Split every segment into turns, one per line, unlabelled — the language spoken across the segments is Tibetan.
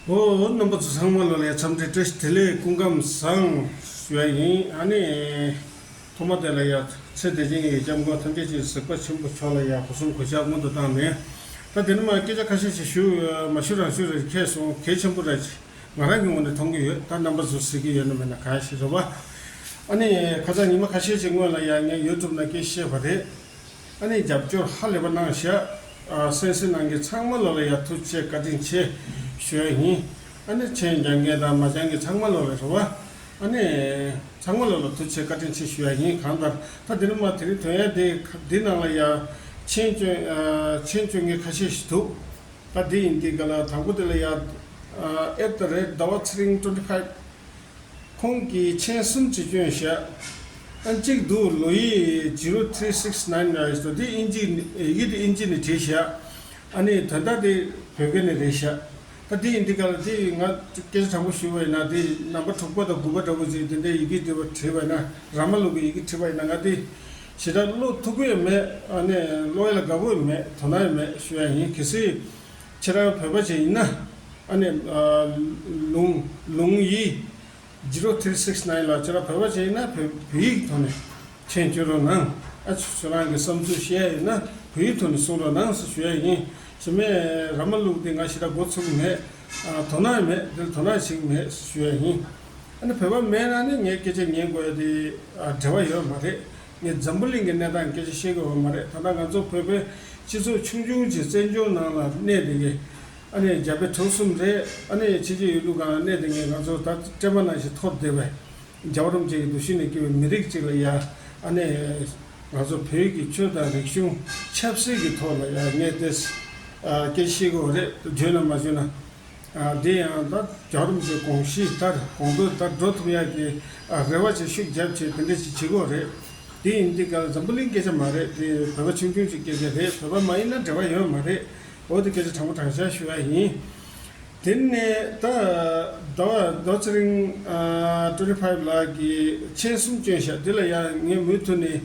ཨོ་རྣམ་པ་ཚོ་ཚང་མ་ལོ་ལེགས་འཚམས་འདྲི་བཀྲ་ཤིས་བདེ་ལེགས་སྐུ་ཁམས་བཟང། ཞུ་བ་ཡིན་ཨ་ནི། ཐོག་མ་དེ་ལ་ཡང་ཚེ་འདས་ཆེན་གྱི་ཡི་སྐྱབས་མགོན་ཐམས་ཅད་ཀྱིས་གཟིགས་པ་ཆེན་པོ་མཆོག་ལ་ཡང་གོ་གསུམ་གོ་ཆག་སྔོན་དུ་བཏང་ནས། ད་དེ་ནི་མ་སྐད་ཆ་ཁ་ཤས་ཤིག་ཞུ་མ་ཞུ་རང་ཞུ་རེད་མཁས་སོང་གལ་ཆེན་པོ་རེད་ཅེས་ང་རང་གི་ངོ་ནས་མཐོང་གི་ཡོད་ད་རྣམ་པ་ཚོས་གཟིགས་ཀྱི་ཡོད་ན་མེད་ན་གང་ཞིག་རེད་བ། ཨ་ནི། ཁ་ཚ་ཉི་མ་ཁ་ཤས་ཀྱི་སྔོན་ལ་ཡང་ངས YouTube ནང་སྐད་བཤད་པ་རེད། ཨ་ནི་རྒྱབ་སྐྱོར་ཧ་ལས་པ་གནང་ཞེས་ཨ་སེང་སེང་གནང་གི་ཚང་མ་ལོ་ལ་ཡར་ཐུག་ཆེད་བཀའ་དྲིན་ཆེ་ཞུ་ཡ་ཡིན་ཨ་ནི་མཆན་རྒྱག་མཁན་དང་མ་སྦྱང་མཁན་ཚང་མ་ལོ་ལ་རེ་བ་ཨ་ནི་ཚང་མ་ལོ་ལ་ཐུག་ཆེད་བཀའ་དྲིན་ཆེ་ཞུ་ཡ་ཡིན་གང་ལྟར་ད་དེ་རིང་མ་དེ་རིང་དོན་ཡ་དེ་འདི་ནང་ལ་ཡར་མཆན་བཅོས་མཆན་བཅོས་མཁན་ཁ་ཤས་ཞིག་འདུག་ད་དེ་ཡིན་དེ་ག་ལ་དང་པོ་དེ་ལ་ཡར at the rate ཟླ་བ་ཚེ་རིང twenty five ཁོང་གིས་མཆན་གསུམ་གྱི་སྐྱོན་བཤད། ཨ་འཇིགས་འདུག་ལོ་ཡི zero three six nine ནས་བཟོ་དེ་ཨིན་ཇི་ནས་ཨེ་ཡིད་ཨིན་ཇི་ནས་བྲིས་བཤད། ཨ་ནི་དོན་དག་དེ་བོད་སྐད་ནས་རེད་བཤད། ད་དེ་ཡིན་དེ་ག་ལ་དེ་ཡིན་ང་སྐད་ཆ་དྲང་པོ་ཞུས་པ་ཡིན་ན་དེ་རྣམ་པ་དྲུག་པ་དང་དགུ་པ་འདྲ་པོ་ཞིག་དེ་འདྲའི་ཡི་གེ་དེ་བ་བྲིས་པ་ཡིན་ན་ར་མ་ལུག་གི་ཡི་གེ་བྲིས་པ་ཡིན་ན་ང་དེ་ཞེ་དྲག་བློ་ཐུག་པོ་ཡོད་མེད་ཨ་ནི་བློ་ཡ་ལ་དགའ་པོ་ཡོད་མེད་དོ་སྣང་ཡོད་མེད་ཞུ་ཡ་ཡིན་གལ་སྲིད། ཁྱེད་རང་བོད་པ་ཅན་ཡིན་ན། ཨ་ནེ། ལུང། ལུང་ཡིས། Zero Three Six Nine ལགས་ཁྱེད་རང་བོད་པ་ཅན་ཡིན་ན་བོད་བོད་ཡིག་གི་ཐོག་ནས་མཆན་བཀྱོད་རོགས་གནང། ཨ་ཁྱོད་རང་གི་བསམ་ཚུལ་བཤད་ཡ་ཡིན་ན་བོད་ཡིག་ཐོག་ནས་གསུང་རོགས་གནང་ཟེར་ཞུ་ཡ་ཡིན། ཞེ་མེ་ར་མ་ལུག་དེ་ང་ཤི་ད་འགོ་ཚུགས་ཀྱི་མེད། དོ་སྣང་མེད་འདིར་དོ་སྣང་བྱེད་ཀྱི་མེད་ཟེར་ཞུ་ཡ་ཡིན། ཨ་ནེ་བོད་པ་མེད་ན་ནི་ངའི་སྐད་ཆ་ཉན་དགོས་ཡ་དེ་འབྲེལ་བ་ཡོད་མ་རེད། ངས་འཛམ་བུ་གླིང་གི་གནས་སྟངས་སྐད་ཆ་བཤད་དགོས་བ་མ་རེད་ད་ལྟ་ང་ཚོ་བོད་པའི་སྤྱི་ཚོགས་ཆུང་ཆུང་གྱི་བཙན་བྱོལ་ནང་ལ་གནས་དེ་གའི་ཨ་ནེ་རྒྱ་བལ་གྲོགས་གསུམ་རེད་ཨ་ནེ་ཡང་ཕྱི་རྒྱལ་ཡུལ་ལུགས་གང་ལ་གནས་དེ་གའི་ང་ཚོར་ད་སྤྲད་པ་ནང་བཞིན་འཐོར་བསྡད་པའི་རྒྱ་བ་རུམ་བཅས་ཀྱི་འདུ་ཤེས་ནས་བསྐྱུར་བའི་མི་རིགས་གཅིག་ལ་ཡང་ཨ་ནེ། ང་ཚོ་བོད་ཀྱི་ཆོས་དང་རིག་གཞུང་ཆབ་སྲིད་ཀྱི་ཐོག་ལ་ཡང་ངས་དེ་སྐད་ཆ་བཤད་དགོས་བ་རེད་བརྗོད་ན་མ་བརྗོད་ན། དེ་ཡང་ད་རྒྱ་རོམ་གྱི་གོང་གཤིས་ལྟར་གོང་བཀོད་ལྟར་འགྲོ་ཐུབ་ཡག་གི་རེ་བ་ཆེ་ཤུགས་རྒྱབ་ཆེ་དེ་འདྲ་ཞིག་བྱེད་དགོས་རེད། དེ་ཡིན་དུས་ག་ལ་འཛམ་བུ་གླིང་སྐད་ཆ་མ་རེད་དེ་བོད་པ་ཆུང་ཆུང་ཞིག་སྐད་ཆ་རེད་བོད་པ་མ་ཡིན་ན་འབྲེལ་བ་ཡོད་མ་རེད་འོ་དེ་སྐད་ཆ་དྲང་པོ་དྲང་བཞག་ཞུ་ཡག་ཡིན། དེ་ནས་ད་ཟླ་བ་རྡོ་ཚེ་རིང twenty five ལགས་ཀྱི་མཆན་གསུམ་བསྐྱོན་བཞག་དེ་ལ་ཡང་ངས་མུས་མཐུ་ནས་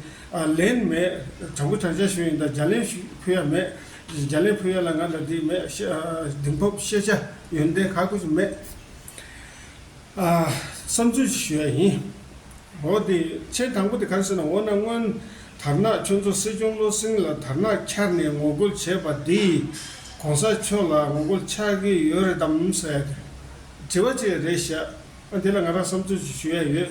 ལན་མེད་དྲང་པོ་དྲང་བཞག་ཞུ་ཡིན་ད་རྒྱ་ལན་ཞུ་ཕུལ་ཡག་མེད། རྒྱ་ལས་ཕུལ་ཡ་ལ་ང་ལ་དྲིན་མེད་དྲིན་ཕོབ་ཤེས་བྱ་ཡོན་ཏན་ག་གོ་ཞིག་མེད། བསམ་ཚུལ་ཞིག་ཞུ་ཡ་ཡིན། འོ་དེ་མཆན་དང་པོ་དེ་གར་ཟེར་ན་འོ་ན་སྔོན་དར་ནག་ཁྱོད་ཚོ་སྲིད་སྐྱོང་བློ་སེང་ལ་དར་ནག་འཁྱར་ནས་ངོ་རྒོལ་བྱས་པ་འདི ྋགོང་ས་མཆོག་ལ་ངོ་རྒོལ་ཆགས་ཀྱི་ཡོད་རེད་དམ་ཟེར་དྲི་བ་ཅིག་རེ་བཞག་ཨ་དེ་ལ་ང་རང་བསམ་ཚུལ་ཞིག་ཞུ་ཡ་ཡོད།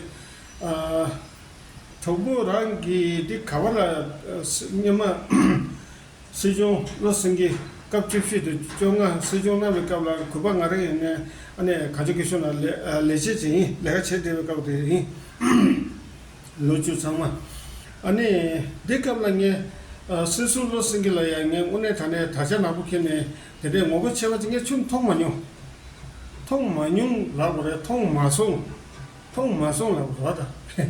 གྲོགས་པོ་རང་གིས་འདི་ག་བ་ལ་སྙེ་མ་སྲིད་སྐྱོང་བློ་སེང་གིས་སྐབས་བཅུ་བཞི་དང་བཅོ་ལྔ་སྲིད་སྐྱོང་གནང་བའི་སྐབས་ལ་གུས་པ་ང་རང་ཡིན་ནའི་གངས་ལྗོངས་སྐད་གཞུང་ལ་ལས་བྱེད་ཅིང་ལས་ཀ་བྱེད་བདེ་བའི་སྐབས་དེ་ཡིན། ལོ་བཅུ་ཚང་མ། ནི། འདི་སྐབས་ལ་ངས། སྲིད་སྐྱོང་བློ་སེང་གི་ལ་ཡང་ངས་དངོས་གནས་ད་ནས་ད་ཆ་ནག་པོ་འཁེལ་ནས་དེ་འདྲའི་ངོ་བོ་ཆེ་བ་དེ་ངས་ཆུང་དུ་མཐོང་མ་མྱོང། མཐོང་མ་མྱོང་ལབ་པ་རེད་མཐོང་མ་སོང། མཐོང་མ་སོང་ལབ་པ་རེད།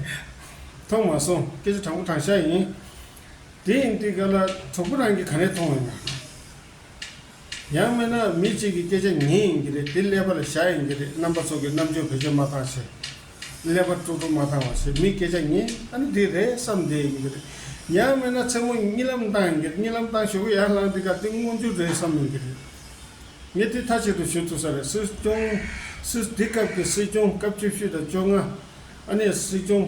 མཐོང་མ་སོང་སྐད་ཆ་དྲང་པོ་དྲང་ཤ་ཡིན། དེ་ཡིན་དུས་ག་ལ་གྲོགས་པོ་རང་གིས་ག་རེ་མཐོང་བའི་ནང་ནས། ཡང་མིན་ན་མི་གཅིག་གི་སྐད་ཆ་ཉན་ཡིན་གྱི་རེད་དེ་ཀླད་པ་ལ་བཞག་ཡིན་གྱི་རེད་རྣམ་པ་ཚོ་གི་རྣམ་དཔྱོད་བེད་སྤྱོད་མ་བཏང་ཕྱིར། ཀླད་པ་སྤྲོ་སྤྲོ་མ་བཏང་བ་ཕྱིར་མིའི་སྐད་ཆ་ཉན་ད་ནི་འདི་རེད་བསམ་བསྡད་ཡིན་གྱི་རེད། ཡང་མིན་ན་མཚན་མོ་གཉིད་ལམ་བཏང་ཡིན་གྱི་རེད་གཉིད་ལམ་བཏང་ཞོག་གི་ཡར་ལངས་འདི་ག་དེ་མངོན་རྒྱུ་རེད་བསམ་ཡིན་གྱི་རེད། ངས་དེ་མཐའ་གཅིག་ཏུ་ཞུ་ཐུབ་ས་རེད་སྲིད་སྐྱོང། སྲིད། དེ་སྐབས་ཀྱི་སྲིད་སྐྱོང་སྐབས་བཅུ་བཞི་དང་བཅོ་ལྔ། ཨ་ནེ་སྲིད་སྐྱོང།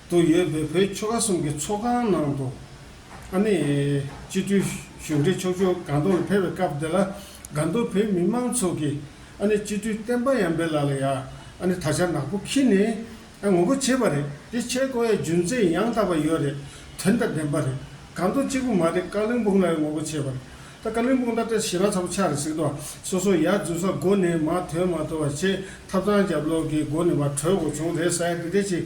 དུ་ཡོད་པའི་བོད་ཆོལ་ཁ་གསུམ་གྱི་ཚོགས་ཁང་ནང་དུ། ཨ་ནེ། སྤྱི་འཐུས་གཞུང་འབྲེལ་ཕྱོགས་བཅུར་དགའ་འདུར་ལ་ཕེབས་པའི་སྐབས་དེ་ལ། དགའ་འདུར་བོད་མི་མང་ཚོགས་ཀྱིས་ཨ་ནེ་སྤྱི་འཐུས་བསྟན་པ་ཡམ་པའི་ལག་ལ་ཡ་ཨ་ནེ་ད་ཆར་ནག་པོ་འཁྱིལ་ནས་ངོ་རྒོལ་བྱེད་པ་རེད་དེ་ཆེད་བསྐོ་ཡ་རྒྱུ་མཚན་ཡང་དག་པ་ཡོད་རེད་དོན་དང་ལྡན་པ་རེད་དགའ་འདུར་གཅིག་པུ་མ་རེད་ཀ་ལིང་སྤུངས་ལ་ཡང་ངོ་རྒོལ་བྱེད་པ་རེད་ད་ཀ་ལིང་སྤུངས་ད་ལྟ་ཞེ་ན་ཚ་པོ་ཆགས་རེད་ཟིག་དོ་སོ་སོ་ཡ་རྫུན་ས་སྒོ་ནས་མ་ཐོན་མ་ཐོན་བ་ཆེད་ཐབས་དང་རྒྱབ་ལོག་གི་སྒོ་ནས་བ་གྲོས་འགོ་བྱུང་རེད་ས་ཡ་འདི་འདྲས་ཅིག།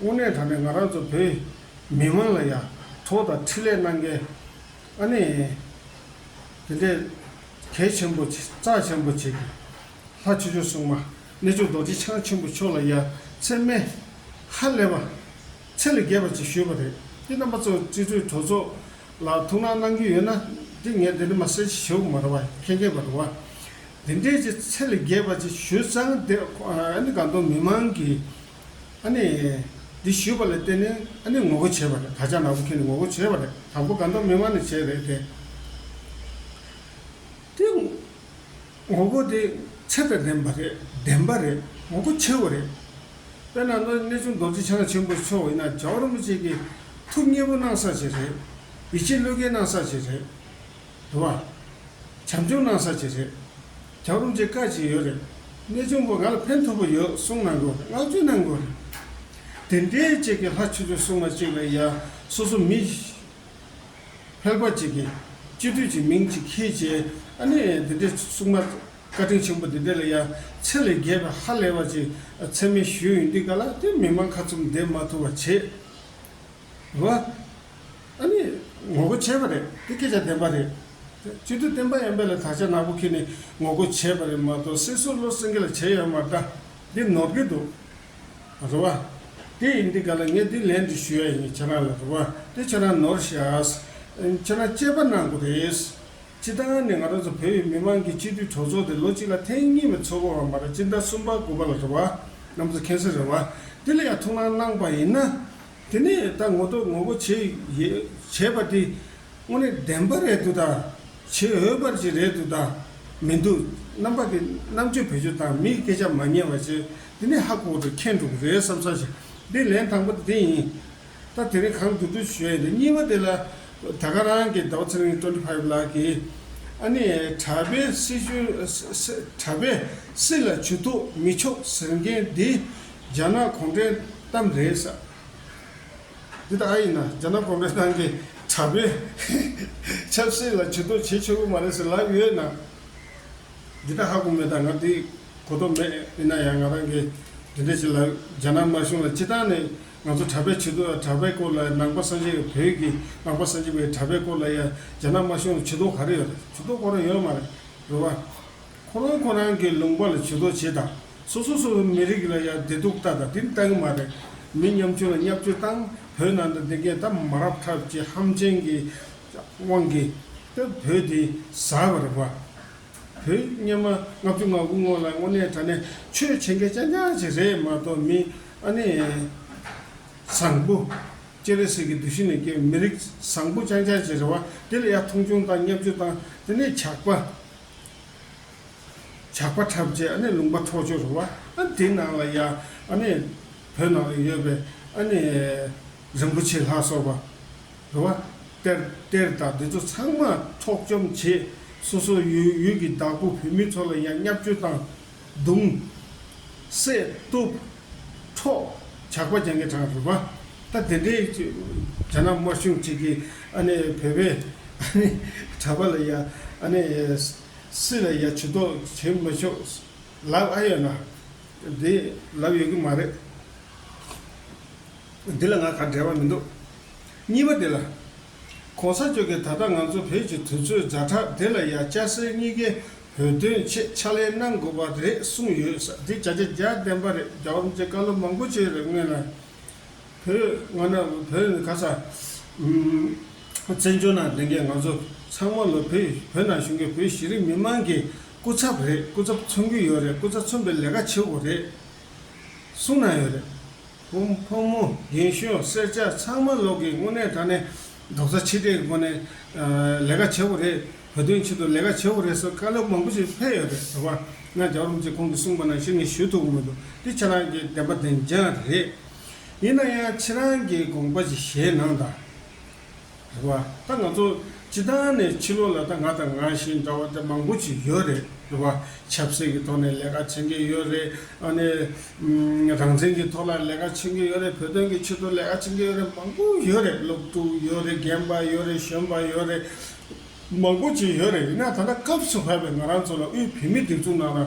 དངོས་གནས་ད་ནས་ང་རང་ཚོ་བོད་མི་མང་ལ་ཡ་ཐོག་དང་ཁྲི་ལས་གནང་མཁན་ཨ་ནེ་དེ་འདྲས་གལ་ཆེན་པོ་རྩ་ཆེན་པོ་བྱེད་དགོས། ལྷ་ཆོས་འབྱུང་སྲུང་མ་གནས་ཆུང་རྡོ་རྗེ་འཆང་ཆེན་པོ་མཆོག་ལ་ཡ་ཚེ་སྨད་ཧ་ལས་པ་ཚེ་ལས་རྒྱས་པ་ཅིག་ཞུས་པ་རེད་ཀྱི་རྣམ་པ་ཚོ་སྤྱི་འཐུས་གྲོས་ཚོགས་ལ་ཐུགས་སྣང་གནང་རྒྱུ་ཡོད་ན་འདི་ངས་འདི་འདྲ་མ་ཟེར་ཅིག་ཞུ་གི་མ་རེད་བ་མཁྱེན་མཁྱེན་པ་རེད་བ། དེ་འདྲས་ཀྱི་ཚེ་ལས་རྒྱས་པ་ཅིག་ཞུས་ཙང་དེ་ཨ་ནེ་དགའ་འདུན་མི་མང་གི་ཨ་ནི། འདི་ཞུས་པ་ལ་བརྟེན་ནས་ཨ་ནི་ངོ་རྒོལ་བྱས་པ་རེད་ད་ཆ་ནག་པོ་ཁྱོད་ནས་ངོ་རྒོལ་བྱས་པ་རེད་དང་པོ་དགའ་འདོགས་མི་དམངས་ནས་བྱས་རེད་དེ། དེ། ངོ་རྒོལ་དེ་ཚད་དང་ལྡན་པ་རེད་བདེན་པ་རེད་ངོ་རྒོལ་ཆེ་བ་རེད། དཔེར་ན་ནག་གནས་ཆུང་རྡོ་རྗེ་འཆང་ཆེན་པོ་མཆོག་ཡིན་ན་རྒྱ་བོར་མི་བཅས་ཀྱིས་ཐུགས་མཉེས་པོ་གནང་ས་ཞིག་རེད། ཡིད་ཆེས་བློས་འགེལ་གནང་ས་ཞིག་རེད། དུ་བ། བྱམས་སྐྱོང་གནང་ས་ཅིག་རེད། གྱང་རུམ་ཅིག་དཀར་ཅིག་ཡོད་རེད། གནས་ཆུང་པོ་ང་ལ་ཕན་ཐོགས་པོ་ཡོད་གསུངས་གནང་དགོས་རེད་བསྔགས་བརྗོད་གནང་དགོས་རེད། དེ་འདྲའི་གཅིག་གི་ལྷ་ཆུ་ཆུ་སྲུང་མ་གཅིག་ལ་ཡ་སོ་སོ་མི། ཕལ་པ་ཅིག་གིས་སྤྱི་མཐུས་ཀྱི་མིང་ཅིག་ཁྱེད་ཀྱིས་ཨ་ནི་དེ་འདྲའི་སྲུང་མ་བཀའ་དྲིན་ཆེན་པོ་དེ་འདྲ་ལ་ཡ་ཚེ་ལས་རྒྱལ་བའི་ཧ་ལས་བ་ཅིག་ཚད་མེད་ཞུས་ཡོད་འདུག་ག་ལ་དེ་མི་མང་ཁ་ཚུམ་བསྡད་མ་ཐུབ་བ་བྱས། རེད། ཨ་ནི་ངོ་རྒོལ་བྱས་པ་རེད་དེ་སྐད་ཆ་བདེན་པ་རེད། སྤྱི་འཐུས་བསྟན་པ་ཡན་པས་ལ་དྭགས་ཆ་ནག་པོ་ཁྱེད་ནས་ངོ་རྒོལ་བྱས་པ་རེད་མ་གཏོགས་སེར་སུ་བློ་སེང་གེ་ལ་བྱས་ཡོད་མ་གཏ་འདི་ནོར་གི་འདུག་རེད་བ། དེ་ཡིན་དེ་ག་ལ་ངས་དེ་ལན་འདི་ཞུ་ཡ་ཡིན་ཁྱེད་རང་ལ་རེད་བ་དེ་ཁྱེད་རང་ནོར་ཤགས། ཁྱེད་རང་དཔྱད་པ་གནང་དགོས་རེད། ཕྱི་ལྟང་ནས་ང་རང་ཚོ་བོད་ཡུལ་མི་མང་གི་སྤྱི་འཐུས་གྲོགས་ཚོགས་དེ་ལོ་གཅིག་ལ་ཐེངས་གཉིས་མི་ཚོགས་པ་བ་མ་ར་སྤྱི་ཟླ་གསུམ་པ་དགུ་པ་ལ་རེད་བ་རྣམ་ཚོ་མཁྱེན་གསལ་རེད་བ། དེ་ལ་ཡ་ཐུགས་སྣང་གནང་པ་ཡིན་ན། དེ་ནས་ད་ངོ་ཏོག་ངོ་བོ་བྱས་ཡོད་བྱས་པ་དེ་དངོས་གནས་བདེན་པ་རེད་འདུག་ད། བྱེད་འོས་པར་ཅིག་རེད་འདུག་ད། མི་འདུག་རྣམ་པ་དེ་རྣམ་དཔྱོད་བེད་སྤྱོད་དང་མིའི་སྐད་ཆ་མ་ཉན་བར་བྱེད་དེ་ནི་ཧ་གོ་དུ་ཁེལ་འགྲོ་གི་རེད་བསམ་ས་ཞིག་འདི་ལན་དང་པོ་དེ་ཡིན། ད་དེ་རིང་གང་འདུག་འདུག་ཞུས་ཡོད་གཉིས་པ་དེ་ལ་ད་ག་རང་གི་ཟླ་བ་ཚེ་རིང་བཀྲ་འཕྲིན་ཕ་ཡུལ་ལགས་ཀྱིས་ཨ་ནི་གྲྭ་པས་སྲིད་གཞུང་གྲྭ་པས་སྲིད་ལ་བྱུག་ཐུག་མི་ཆོག་ཟེར་མཁན་འདི་རྒྱ་ནག་གུང་ཁྲན་གཏམ་རེད་ས། འདི་ད་ཡིན་ན་རྒྱ་ནག་གུང་ཁྲན་ཏང་གི་དྲ་འབུ། ཆབ་སྲིད་ལ་ཇུས་གཏོགས་བྱེད་ཆོག་གི་མ་རེད་ཟེར་ལབ་ཡོད་ན། འདི་ད་ཧ་གོ་མེད་ད་ང་དེ་གོ་རྟོགས་མེད་ཡིན་ན་ཡང་ང་རང་གི་འདི་འདྲ་བྱེད་ལབ་རྒྱ་ནག་དམར་གཞུང་ལ་སྤྱི་བཏང་ནས་ང་ཚོ་དྲ་འབེ་བྱེད་དུ་ཨ་དྲ་འབེ་སྐོར་ལ་ནང་པ་སངས་རྒྱས་བོད་ཀྱི་ནང་པ་སངས་རྒྱས་པའི་དྲ་འབེ་སྐོར་ལ་ཡང་རྒྱ་ནག་དམར་གཞུང་ལ་ཇུས་གཏོགས་ག་རེ་ཡོད་རེད་ཇུས་གཏོགས་གོ་རེ་ཡོད་མ་རེད་རེད་བ། ཁོ་རང་ཁོ་རང་གི་ལུང་པ་ལ་བྱུས་གཏོགས་བྱེད་དང་སོ་སོ་སོ་སོའི་མི་རིགས་ལ་ཡང་བདེ་སྡུག་ལྟ་དང་དེ་ལྟ་གི་མ་རེད། མི་ཉམ་ཆུང་ལ་བསྙབ་བཅོས་བཏང་བོད་ནང་དུ་འདི་གས་ད་མ་རབ་ཐབས་ཀྱི་ཧམ་ཆེན་གི་དབང་གིས་སྟབས་བོད་འདི་ཟ་བར་རེད་པཱ། བོད་སྙམ་མ་ལྔ་བཅུ་ང་དགུ་སྔོན་ལ་དངོས་གནས་དྲ་གནས་ཆོས་བྱེད་མཁན་རྐྱང་རྐྱང་ཞིག་རེད་མ་གཏོགས་མི་ཨ་ནི་བཟང་པོ། སྤྱན་རས་གཟིགས་ཀྱི་འདུ་ཤེས་ནས་སྐྱེས་པའི་མི་རིགས་བཟང་པོ་རྐྱང་རྐྱང་ཅིག་རེད་བཱ་དེ་ལ་ཡང་མཐོང་ཆུང་དང་བསྙབ་བཅོས་བཏང་དེ་ནས་ཇག་པ། ཇག་པ་འཁྲབ་རྗེས་ཨ་ནེ་ལུང་པ་འཕྲོག་བྱོ་རུ་བ་ཨ་དེ་ནང་ལ་ཡ་ཨ་ནེ། བོད་ནང་ལ་ཡོད་པའི་ཨ་ནེ། རིན་པོ་ཆེ་ལྷ་སོགས་པ། རུ་བ། གཏེར་གཏེར་དང་འདི་ཚོ་ཚང་མ་འཕྲོག་བཅོམ་བྱེད། སོ་སོ་ཡུལ་ཡུལ་གྱི་བདག་པོ་བོད་མི་ཚོ་ལ་ཡང་བསྙབ་བཅོལ་བཏང། གདུང། བསྲེ། གཏུབ། འཕྲོ། ཇག་པ་རྒྱང་གི་གྲངས་རིག་པ། ད་དེ་འདྲའི། རྒྱ་ནག་དམར་གཞུང་གཅིག་གིས་ཨ་ནི་བོད་པའི། ཨ་ནི། གྲྭ་པ་ལ་ཡ། ཨ་ནི། སྲིད་ལ་ཡ་བྱུས་གཏོགས་བྱེད་མི་ཆོག། ལབ་ཨ་ཡོད་ན། དེ། ལབ་ཡོད་ཀྱི་མ་རེད། འདི་ལ་ང་ག་འབྲེལ་བ་མི་འདུག། གཉིས་པ་འདི་ལ། གོང་ས་མཆོག་གིས་ད་ལྟ་ང་ཚོ་བོད་ཀྱི་དུས་ཚོད་རྫ་ཁྲག་དེ་ལ་ཡ་སྐྱ་སེར་གཉིས་ཀའི་བོད་དོན་ཆེད་ཕྱག་ལས་གནང་དགོས་པ་རེད་གསུངས་ཡོད་ས་དེ་བྱ་རྒྱ་རྒྱ་བདེན་པ་རེད་རྒྱ་འོམ་ཅེས་བཀའ་སློབ་མང་པོ་བྱས་རེད་སྔོན་ལ་བོད་སྔ་ན་བོད་ནི་ག་ས་བཙན་བྱོལ་ནང་བསྡད་མཁན་ང་ཚོ་ཚང་མ་ལོ་བོད་བོད་ནང་བཞུགས་མཁན་བོད་ཤེས་རིག་མི་མང་གི་སྐུ་ཚབ་རེད་སྐུ་ཚབ་མཚོན་གྱི་ཡོད་རེད་སྐུ་ཚབ་མཚོན་པའི་ལས་ཀ་བྱེད་དགོས་རེད་གསུངས་གནང་ཡོད་རེད། ཧཱུྃ། ཕོ་མོ་གཞན་ཞོལ་སེར་སྐྱ་ཚང་མ་ལོག་གི་དངོས་གནས་ད་ནི་རྡོག་རྩ་ཆིག་སྒྲིལ་གྱི་སྒོ་ནས་ལས་ཀ་བྱེད་པོ་རེད་བོད་དོན་ཆེད་དུ་ལས་ཀ་བྱེད་པོ་རེད་སོགས་བཀའ་སློབ་མང་པོ་ཞིག་ཕེབས་ཡོད་པས་དོགས་པ་ང་རྒྱག་རུང་ཅེས་ཁོང་གིས་གསུངས་པ་ནང་བཞིན་ངས་ཞུ་ཐུབ་མི་འདུག་འདི་ཁྱེད་རང་གི་བདེན་པ་བདེན་རྐྱང་རེད། ཡིན་ན་ཡང་ཁྱེད་རང་གི་དགོངས་པ་ཞིག་གཞན་ནང་དང། རེད་བ། ད་ང་ཚོ་སྤྱི་དང་ནས་ཕྱི་ལོག་ལ་ད་ང་དང་ང་བཞིན་འདྲ་བ་དེ་མང་པོ་ཞིག་ཡོད་རེད་རེད་བ། ཆབ་སྲིད་ཀྱི་ཐོག་ནས་ལས་ཀ་བྱེད་མཁན་ཡོད་རེད། ཨ་ནི། རང་བཙན་གྱི་ཐོག་ལ་ལས་ཀ་བྱེད་མཁན་ཡོད་རེད་བོད་དོན་གྱི་ཆེད་དུ་ལས་ཀ་བྱེད་མཁན་ཡོད་རེད་མང་པོ་ཡོད་རེད་སློབ་ཕྲུག་ཡོད་རེད་རྒན་པ་ཡོད་རེད་གཞོན་པ་ཡོད་རེད། མང་པོ་ཅིག་ཡོད་རེད་ཡིན་ན་ད་ད་སྐབས་སུ་བབས་པའི་ང་རང་ཚོ་ལ་དབུས་བོད་མི་སྒྲིག་འཛུགས་ནང་ལ།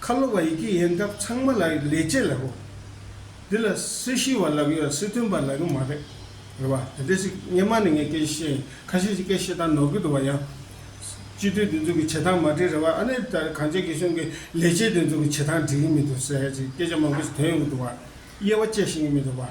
ཁ་ལོ་བ་ཡི་གེ་ཡིན་སྟབས་ཚང་མ་ལག་གི་ལས་བྱེད་ལགས་གོ། འདི་ལ་སྲི་ཞུ་བ་ལགས་ཡོད་སྲི་ཐོན་པ་ལགས་ཀྱི་མ་རེད། རེད་བ། དེ་འདྲས་ཤིག་སྙེ་མ་ནི་ངས་སྐད་བཤད་ཡིན་ཁ་ཤས་ཤིག་སྐད་བཤད་སྟངས་ནོར་གི་འདུག་བ་ཡང། སྤྱི་འཐུས་འདི་ཚོ་གི་བྱེད་སྟངས་མ་འགྲིག་རེད་བ་ཨ་ནི་ད་གངས་ཅན་གི་གཞུང་གི་ལས་བྱེད་འདི་ཚོ་གི་བྱེད་སྟངས་འགྲིག་གི་མི་འདུག་ཟེར་ཡ་ཅིག་སྐད་ཆ་མང་པོ་ཞིག་ཐོན་ཡོང་གི་འདུག་བ། དབྱེ་བ་དཔྱད་ཤེས་ཀྱི་མི་འདུག་བ།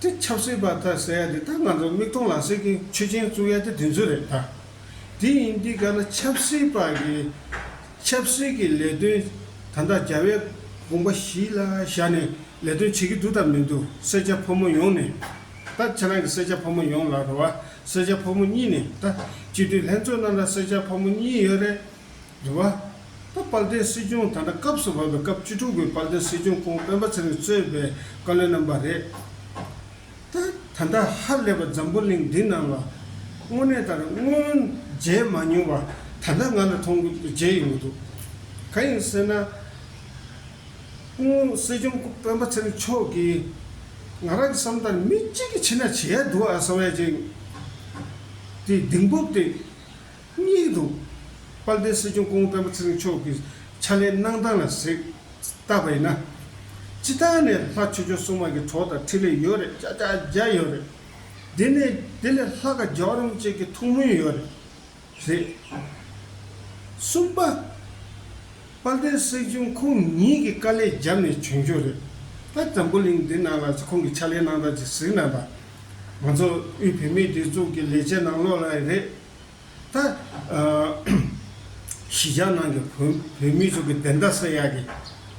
དེ་ཆབ་སྲིད་པ་དག་ཟེར་ཡ་དེ་དག་ང་ཚོ་མིག་མཐོང་ལག་ཟིན་གྱི་ཆོས་ཅན་བཙུགས་ཡ་དེ་དེ་ཚོ་རེད་ད། དེ་ཡིན་དུས་ག་ལ་ཆབ་སྲིད་པ་གི་ཆབ་སྲིད་ཀྱི་ལས་དོན་ད་ལྟ་རྒྱ་བལ་དགོངས་པ་བཞི་ལ་བཞག་ནས་ལས་དོན་བྱེད་ཀྱི་འདུག་དང་མི་འདུག་སེར་སྐྱ་ཕོ་མོ་ཡོངས་ནས་ད་ཁྱེད་རང་གི་སེར་སྐྱ་ཕོ་མོ་ཡོངས་ལ་རོ་བ་སེར་སྐྱ་ཕོ་མོ་གཉིས་ནས་ད་སྤྱི་འཐུས་ལྷན་ཚོགས་ནང་ལ་སེར་སྐྱ་ཕོ་མོ་གཉིས་ཡོད་རེད། དྲི་བ། ད་དཔལ་ལྡན་སྲིད་སྐྱོང་ད་དྲ་སྐབས་སུ་བབས་པའི་སྐབས་བཅུ་དྲུག་གི་དཔལ་ལྡན་སྲིད་སྐྱོང་ཁོང་སྤེན་པ་ཚེ་རིང་གཙོས་པའི་བཀའ་བློན་རྣམ་པ་རེད། ད་ད་ལྟ་ཧ་ལས་པ་འཛམ་བུ་གླིང་འདི་ནང་ལ། དངོས་གནས་ལྟར་སྔོན་མཇལ་མ་མྱོང་བ་ད་ལྟ་ང་ལ་མཐོང་མཇལ་ཡོང་གི་འདུག་གང་ཡིན་ཟེར་ན། སྐུ་ངོ་སྲིད་སྐྱོང་སྐུ་སྤེན་པ་ཚེ་རིང་མཆོག་གིས། ང་རང་གི་བསམ་ལྟར་མི་གཅིག་གིས་བྱས་ན་བྱས་ཡག་འདུག་ཨ་བསམ་ཡ་བྱས། དེ་གདེང་སྤོབས་དེ། སྙིང་དུ། དཔལ་ལྡན་སྲིད་སྐྱོང་ཀོང་ཀྲང་པུ་ཚེ་རིང་མཆོག་གི་ཕྱག་ལས་གནང་སྟངས་ལ་གཟིགས། བལྟ་བ་ཡིན་ན། སྤྱི་བཏང་ནས་ལྷ་ཆོས་ཆོས་སྲུང་མ་གི་གྲོགས་དང་འཕྲིན་ལས་ཡོད་རེད་ཅག་ཅག་རྒྱ་ཡོད་རེད། དེ་ནས་དེ་ལས་ལྷ་ཁ་རྒྱའོ་རམ་བཅས་ཀྱི་ཐུགས་སྨོན་ཡོད་རེད། རེད། གསུམ་པ། དཔལ་ལྡན་སྲིད་སྐྱོང་ཁོང་ཉིད་ཀྱི་དཀའ་ལས་རྒྱབ་ནས་བྱོན་རྒྱུ་རེད། ཕ་འཛམ་བུ་གླིང་འདི་ནང་ལ་ཁོང་གི་ཕྱག་ལས་གནང་སྟངས་ཅིག་གཟིགས་ན་དང། ང་ཚོ་དབུས་བུད་མེད་སྒྲིག་འཛུགས་ཀྱི་ལས་བྱེད་ནང་ལོགས་ལ་རེད། ད། གཞིས་ཆགས་ནང་གི་བོད་མི་ཚོ་གི་བདེན་མཐའ་སེལ་ཡག་གི་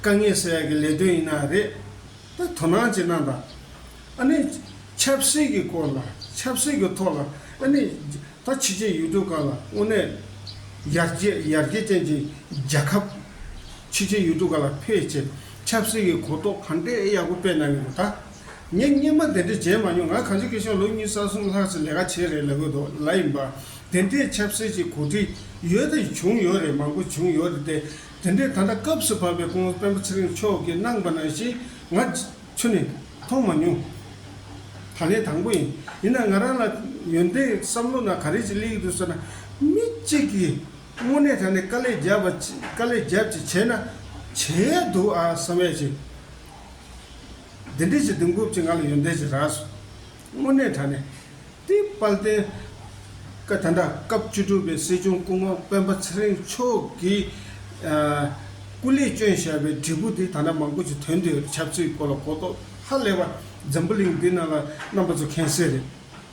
དཀའ་ངལ་སེལ་ཡག་གི་ལས་དོན་ཡིན་ན་རེད། ད་དོ་སྣང་བྱེད་ན་ད། ཨ་ནི། ཆབ་སྲིད་ཀྱི་སྐོར་ལ་ཆབ་སྲིད་ཀྱི་ཐོག་ལ་ཨ་ནི། ད་ཕྱི་རྗེས་ཡུལ་གྲུ་གང་ལ་དངོས་གནས། ཡར་རྒྱས་ཡར་རྒྱས་ཅན་གྱི་རྒྱལ་ཁབ། ཕྱི་རྗེས་ཡུལ་གྲུ་ག་ལ་ཕེབས་ཆེད་ཆབ་སྲིད་ཀྱི་གོ་རྟོགས་གང་འདྲས་ཡག་པོ་སྤེལ་གནང་གི་འདུག་ད། ངས་སྙན་པ་དེ་འདྲ་མཇལ་མ་མྱོང་ང་གངས་ཅན་སྐད་གཞུང་ལོ་གཉིས་ས་གསུམ་ལྷག་ཅིག་ལས་ཀ་བྱས་རེད་ལབ་ཡོད་འདུག་ལ་ཡིན་པ། དེ་འདྲའི་ཆབ་སྲིད་ཀྱི་གོ་སྒྲིག་ཡོད་དེ་བྱུང་ཡོད་རེད་མང་པོ་བྱུང་ཡོད་རེད་དེ། དེ་འདྲའི་ད་ལྟ་སྐབས་སུ་བབས་པའི་སྐུ་ངོ་སྤེན་པ་ཚེ་རིང་མཆོག་གིས་གནང་པ་ནང་བཞིན་ང་ཆུ་ནས་མཐོང་མ་མྱོང། ད་ལན་དང་པོ་ཡིན། ཡིན་ན་ང་རང་ལ་ཡོན་ཏན་བསམ་བློ་ན་ག་རེ་ཅིག་བསླེས་ཡོད་དུས་སོ་ན། མི་གཅིག་གིས་དངོས་གནས་ད་ནས་དཀའ་ལས་རྒྱབ་པ་དཀའ་ལས་རྒྱབ་ཅིག་བྱས་ན་བྱས་ཡོད་འདུག་ཨ་བསམ་ཡ་ཅིག། འདི་འདྲས་ཀྱི་དུས་འགོ་བཅས་ང་ལ་ཡོན་ཏན་ཞིག་རག་སོང། དངོས་གནས་དྲན་ནས་དེའི་དཔལ་ལྡན་སྐབས་དེ་འདྲ་སྐབས་བཅུ་དྲུག་པའི་སྲིད་སྐྱོང་སྐུ་ངོ་སྤེན་པ་ཚེ་རིང་མཆོག་གིས་སྐུ་ལས་བསྐྱོན་བཞག་པའི་བྲིས་སྐུ་དེ་ད་ལྟ་མང་པོ་ཞིག་དོན་དེའི་ཁྱབ་ཚུལ་སྐོར་ལ་གོ་རྟོགས་ཧ་ལས་པ་འཛམ་བུ་གླིང་འདི་ན་ལ་རྣམ་པ་ཚོ་མཁྱེན་གསལ་རེད།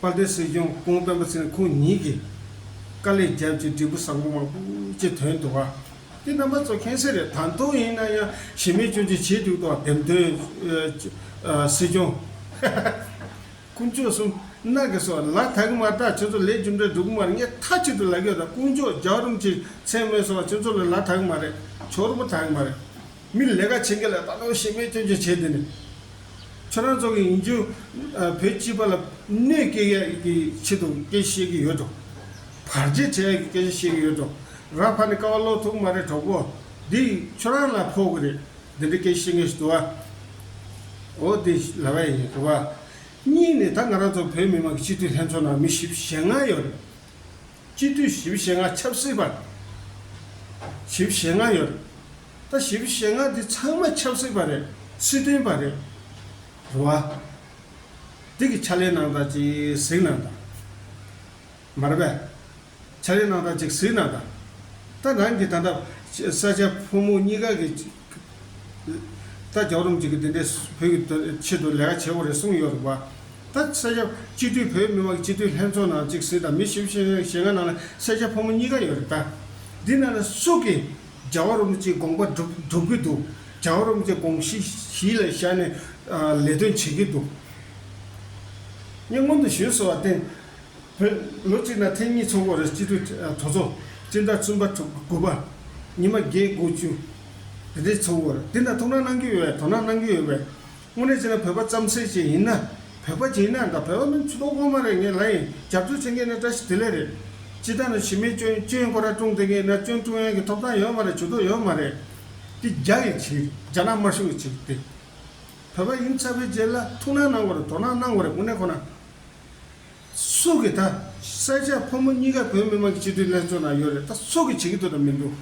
དཔའ་རྟུལ་སྲིད་སྐྱོང་ཀུན་སྤེལ་པ་ཚེ་ཁོང་ཉིད་ཀྱིས། དཀའ་ལས་རྒྱབ་ཀྱི་འབྲས་བུ་བཟང་པོ་མང་པོ་ཅི་དོན་དུ་བ། དེ་རྣམ་པ་ཚོ་ཁེངས་སེ་རེད་ད་དུང་ཡིན་ན་ཡང་ཞི་མེད་སྐྱོན་བརྗོད་བྱེད་འཇུག་དོག་འདེམས་དོན་སྲིད་སྐྱོང། དཀོན་མཆོག་གསུམ་སྣ་གི་སོགས་ལ་ད་གི་མར་ད་ཁྱོད་ཚོ་ལས་རྒྱུ་འབྲས་འགྲོ་གི་མར་ངས་མཐའ་གཅིག་ཏུ་ལ་གོས་ད་དཀོན་མཆོག་རྒྱག་རུམ་གྱི་མཚན་སྨོད་སོགས་ཁྱོད་ཚོ་ལ་ལ་ད་གི་མ་རེད་ཆོག་རུ་པོ་ད་གི་མ་རེད། མིར་ལས་ཀ་བྱེད་མཁན་ལ་ལྟ་ནོར་ཤེས་མེད་སྐྱོན་བརྗོད་བྱས་ཏེ། ཁྱོད་རང་ཚོ་གིས་ཡིན་རྒྱུ་བོད་སྤྱི་པ་ལ་གནོད་སྐྱེལ་ཡས་ཀྱི་ཆེད་དུ་སྐད་ཆ་བཤད་ཀྱི་ཡོད་འགྲོ། བར་རྗེས་དྲན་ཡས་ཀྱི་སྐད་ཆ་བཤད་ཀྱི་ཡོད་འགྲོ། ར་ཕ་ནི་ཀ་བ་ཀློག་ཐུབ་མ་རེད་གྲོགས་པོ། འདི་ཁྱོད་རང་ལ་ཕོག་གི་རེད། འདི་འདྲའི་སྐད་ཆ་བཤད་མཁན་ཞིག་དུ་བ། འོ་འདི་ལ་བས་ཡིན་དུ་བ། གཉིས་ནས་ད་ང་རང་ཚོ་བོད་མི་མང་གི་སྤྱི་འཐུས་ལྷན་ཚོགས་ནང་མི་བཞི་བཞེ་ལྔ་ཡོད་རེད། སྤྱི་འཐུས་བཞི་བཞི་ལྔ་ཆབ་སྲིད་པར་བཞི་བཞི་ལྔ་ཡོད། ད་བཞི་བཞི་ལྔ་འདི་ཚང་མ་ཆབ་སྲིད་པ་རེད་སྲིད་དོན་པ་རེད། རེད་བ། འདི་གི་ཕྱག་ལས་གནང་སྟངས་ཅིག་གཟིགས་གནང་དང། མ་རེད་པས། ཕྱག་ལས་གནང་སྟངས་ཅིག་གཟིགས་གནང་དང། ད་རང་གི་ད་ལྟ་ས་སྐྱ་ཕོ་མོ་གཉིས་ཀ་གི། ད་རྒྱ་རོམ་གྱིས་དེ་འདྲའི་བོད་ཀྱི་ཆེད་དུ་ལས་ཀ་བྱེད་དགོས་རེད་གསུངས་ཡོད་རེད་བ། ད་ས་སྐྱ་སྤྱི་མཐུས་བོད་མི་མང་གི་སྤྱི་མཐུས་ལྷན་ཚོགས་ནང་གཅིག་སྲིད་དང་མི་བཞི་བཞི་ཞེ་ལྔ་ནང་ལ་ས་སྐྱ་ཕོ་མོ་གཉིས་ཀ་ཡོད་རེད་ད། འདི་ནང་ལ་སུ་གིས་རྒྱ་བ་རོམ་གྱི་དགོངས་པ་སྒྲུབ་ཀྱི་འདུག་རྒྱ་བ་རོམ་གྱི་དགོངས་གཞི་གཞི་ལ་བཞག་ནས་ལས་དོན་བྱེད་ཀྱི་འདུག་ངས་སྔོན་དུ་ཞུས་སོ་བར་བརྟེན་བོད། ལོ་གཅིག་ན་ཐེངས་གཉིས་ཚོགས་འགོ་རེས་སྤྱི་འཐུས་གྲོས་ཚོགས་སྤྱི་ཟླ་གསུམ་པ་དྲུག་པ་དགུ་པ། ཉི་མ་བརྒྱད་དགུ་བཅུ། རེས་ཚོགས་འགོ་རེས་འདི་འདྲ་ཐུགས་སྣང་གནང་རྒྱུ་ཡོད་པས་དོ་སྣང་གནང་རྒྱུ་ཡོད་པས། དངོས་གནས་བྱས་ན་བོད་པ་རྩམ་ཟེ་ཅིག་ཡིན་ན། བོད་པ་ཅིག་ཡིན་ན་འདྲ་བོད་པ་མིན་ཚུལ་ལོག་ལྷོང་མ་རེད་ངས་ལ་ཡིན་རྒྱབ་སྐྱོར་བྱེད་མཁན་ནི་བཀྲ་ཤིས་བདེ་ལེགས་རེད། སྤྱི་ཟླ་ནང་བྱེས་མའི་སྐྱོན་སྐྱོན་ཁོ་ར་ཀྲུང་བསྟེན་མཁན་ན་སྐྱོན་ཀྲུང་དབྱང་གི་ཐོབ་ཐང་ཡོད་མ་རེད་བྱུས་ཏོག་ཡོད་མ་རེད། འདི་རྒྱ་ཡི་ཆིག་རྒྱ་ནག་དམར་ཤོག་གི་ཆིག་སྟེ། བོད་པ་ཡིན་ཚར་བའི་རྗེས་ལ་ཐུགས་སྣང་གནང་དགོ་རེད་དོ་སྣང་གནང་དགོ་རེད་དངོས་གནས་ཁོ་ན། སུ་གི་ད་ས་ཆ་ཕོ་མོ་གཉིས་ཀ་བོད་མི་མང་གི་སྤྱི་འཐུས་ལྷན་ཚོགས་ནང་ཡོད་རེད་ད་སུ་གི་བྱེད་ཀྱི་འདུག་དང་མི་འདུག་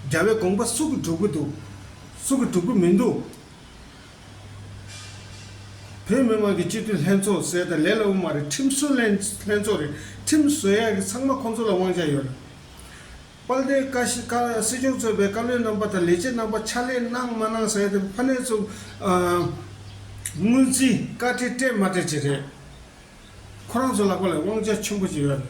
རྒྱ་བའི་དགོངས་པ་སུ་གི་སྒྲུབ་ཀྱི་འདུག་སུ་གི་སྒྲུབ་ཀྱི་མི་འདུག་བོད་མི་མང་གི་སྤྱི་འཐུས་ལྷན་ཚོགས་ཟེར་ད་ལས་སླ་བོ་མ་རེད་ཁྲིམས་བཟོ་ལྷན་ཚོགས་རེད་ཁྲིམས་བཟོ་ཡག་གི་ཚང་མ་ཁོང་ཚོ་ལ་དབང་ཆ་ཡོད་རེད། དཔལ་ལྡན་བཀའ་སྤྱི་ཁ་སྲིད་སྐྱོང་གཙོས་པའི་བཀའ་བློན་རྣམ་པ་དང་ལས་བྱེད་རྣམ་པ་ཕྱག་ལས་གནང་མ་གནང་ཟེར་ཕ་ནས་ཚུགས། སྔོན་རྩིས་བཀའ་ཁྲི་སྤྲད་མ་སྤྲད་བཅས་རེད། ཁོ་རང་ཚོ་ལག་པ་ལ་དབང་ཆ་ཆེན་པོ་ཅིག་ཡོད་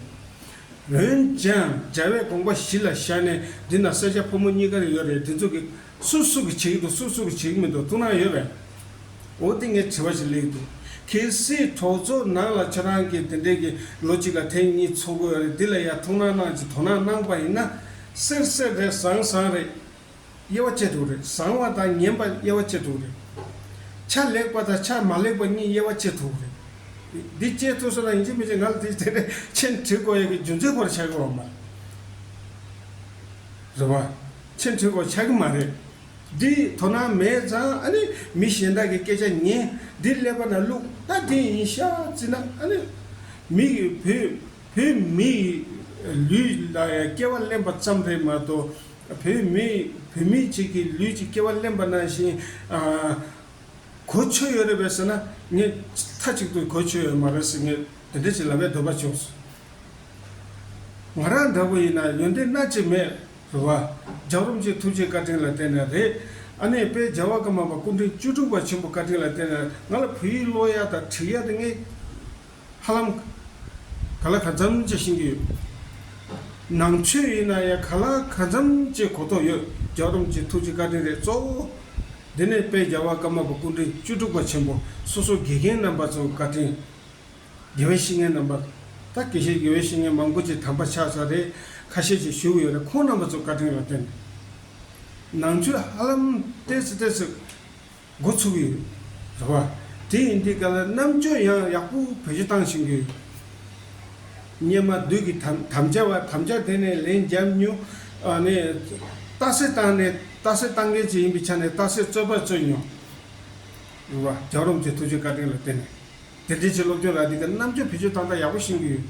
རེད། འོན་ཀྱང་རྒྱལ་བའི་དགོངས་པ་གཞི་ལ་བཞག་ནས་འདི་ན་སེར་སྐྱ་ཕོ་མོ་གཉིས་ཀ་རེ་ཡོད་རེད་འདི་ཚོ་གི། སུ་སུ་གི་བྱེད་ཀྱི་འདུག་སུ་སུ་གི་བྱེད་ཀྱི་མི་འདུག་ཐུགས་སྣང་ཡོད་རེད། འོ་དེ་ངས་དྲི་བ་ཞིག་གླེང་འདུག་གལ་སྲིད་གྲོགས་ཚོ་ནང་ལ་ཁྱོད་རང་གིས་དེ་འདྲའི་གི་ལོ་གཅིག་ལ་ཐེངས་གཉིས་འཚོགས་དགོས་རེད་འདི་ལ་ཡར་ཐུགས་སྣང་གནང་ཅིག་དོ་སྣང་གནང་པ་ཡིན་ན། གསེར་གསེར་རེད་བཟང་བཟང་རེད། དབྱེ་བ་བཅད་དྲུག་རེད་བཟང་བ་དང་ངན་པ་དབྱེ་བ་བཅད་དྲུག་རེད། ཆ་ལེགས་པ་དང་ཆ་མ་ལེགས་པ་གཉིས་དབྱེ་བ་བཅད་དྲུག་རེད། འདི་བཅད་ཐུབ་སོང་ན་ཡིན་གཅིག་མིན་གཅིག་ང་ལ་དེ་དེ་འདྲའི་མཆན་བྲིས་དགོས་ཡོད་གི་རྒྱུ་མཚན་སྐོར་ལ་ཆ་གི་འོང་མ་རེད་བ། ཆེས་མཐོའི་སྐོར་ཆགས་ཀྱི་མ་རེད། འདི་དོ་སྣང་མེད་ཙང་ཨ་ནི་མི་གཞན་དག་གི་སྐད་ཆ་ཉན་འདི་ཀླད་པ་ན་བླུག་ད་དེ་ཡིན་ཤ་ཙི་ན་ཨ་ནི། མི་གི་བུ་བོད་མི་ཡི་ལུས་ལ་ཡང་སྐྱེ་བ་གླེན་པ་ཙམ་རེད་མ་གཏོགས་བོད་མི་བུད་མེད་ཅིག་གི་ལུས་ཀྱི་སྐྱེ་བ་གླེན་པ་ནང་བཞིན་གོ་ཆོད་ཡོད་རེད་པས་ཟེར་ན་ངས་མཐའ་གཅིག་ཏུ་གོ་ཆོད་ཡོད་མ་རེད་ཟེར་ངས་དེ་འདྲ་ཅིག་ལབ་པའི་འདོད་པ་བྱུང་སོང། ང་རང་འདྲ་པོ་ཡིན་ན་ཡོན་ཏན་སྣ་གཅིག་མེད་རེ་བ། ལྗགས་རུམ་གྱི་ཐུགས་རྗེ་བཀའ་དྲིན་ལ་བརྟེན་ནས་རེད། ཨ་ནེའི་དཔལ་རྒྱལ་བ་ཀརྨ་པ་སྐུ་འཕྲེང་བཅུ་དྲུག་པ་ཆེན་པོ་བཀའ་དྲིན་ལ་བརྟེན་ནས་ང་ལ་བུ་ཡིག་ཀློག་ཡ་དང་བྲིས་ཡ་དེ་ངས་ཧ་ལམ་ག་ལ་ག་མཚམས་བཅད་ཤེས་ཀྱི་ཡོད། ནང་ཆོས་ཡིན་ན་ཡང་ག་ལ་ག་མཚམས་བཅད་གོ་ཐོག་ཡོད་ལྗགས་རུམ་གྱི་ཐུགས་རྗེ་བཀའ་དྲིན་རེད་གཙོ་བོ། དེ་ནས་དཔལ་རྒྱལ་བ་ཀརྨ་པ་སྐུ་འཕྲེང་བཅུ་དྲུག་པ་ཆེན་པོ་སོ་སོ་དགེ་རྒན་རྣམ་པ་ཚོའི་བཀའ་དྲིན། དགེ་བའི་བཤེས་གཉེན་རྣམ་པ། ད་གེ་ཤེས་དགེ་བའི་བཤེས་གཉེན་མང་པོ་ཅིག་དམ་པ་ཕྱག་ཚ་རེ་ཁ་ཤས་ཅིག་བཞུགས་ཡོད་རེ་ཁོང་རྣམ་པ་ཚོ་བཀའ་དྲིན་ལ་བརྟེན། ནང་ཆོས་ཧ་ལམ་བལྟས་ཚེ་བལྟས་ཚེ་འགོ་ཚུགས་ཡོད་རེད་བ། དེ་ཡིན་དུས་ག་ལ་རྣམ་དཔྱོད་ཡང་ཡག་པོ་བེད་སྤྱོད་བཏང་བཞིན་ཡོད། སྙེ་མ་བདུད་ཀྱི་དམ་བཅའ་བ་དམ་བཅའ་དེ་ནས་ལན་བརྒྱབ་མྱོང། རྟགས་གསལ་བཏང་ནས་རྟགས་གསལ་བཏང་མཁན་ཅིག་ཡིན་པའི་ཆ་ནས་རྟགས་གསལ་རྩོད་པ་རྩོད་མྱོང། རེད་བ། རྒྱག་རོམ་གྱི་ཐུགས་རྗེ་བཀའ་དྲིན་ལ་བརྟེན་ནས། དེ་འབྲེལ་ཆེད་སློབ་ཐོན་ལ་འདི་ག་རྣམ་དཔྱོད་བེད་སྤྱོད་ཏག་ཏག་ཡག་པོ་བཞིན་གྱིས།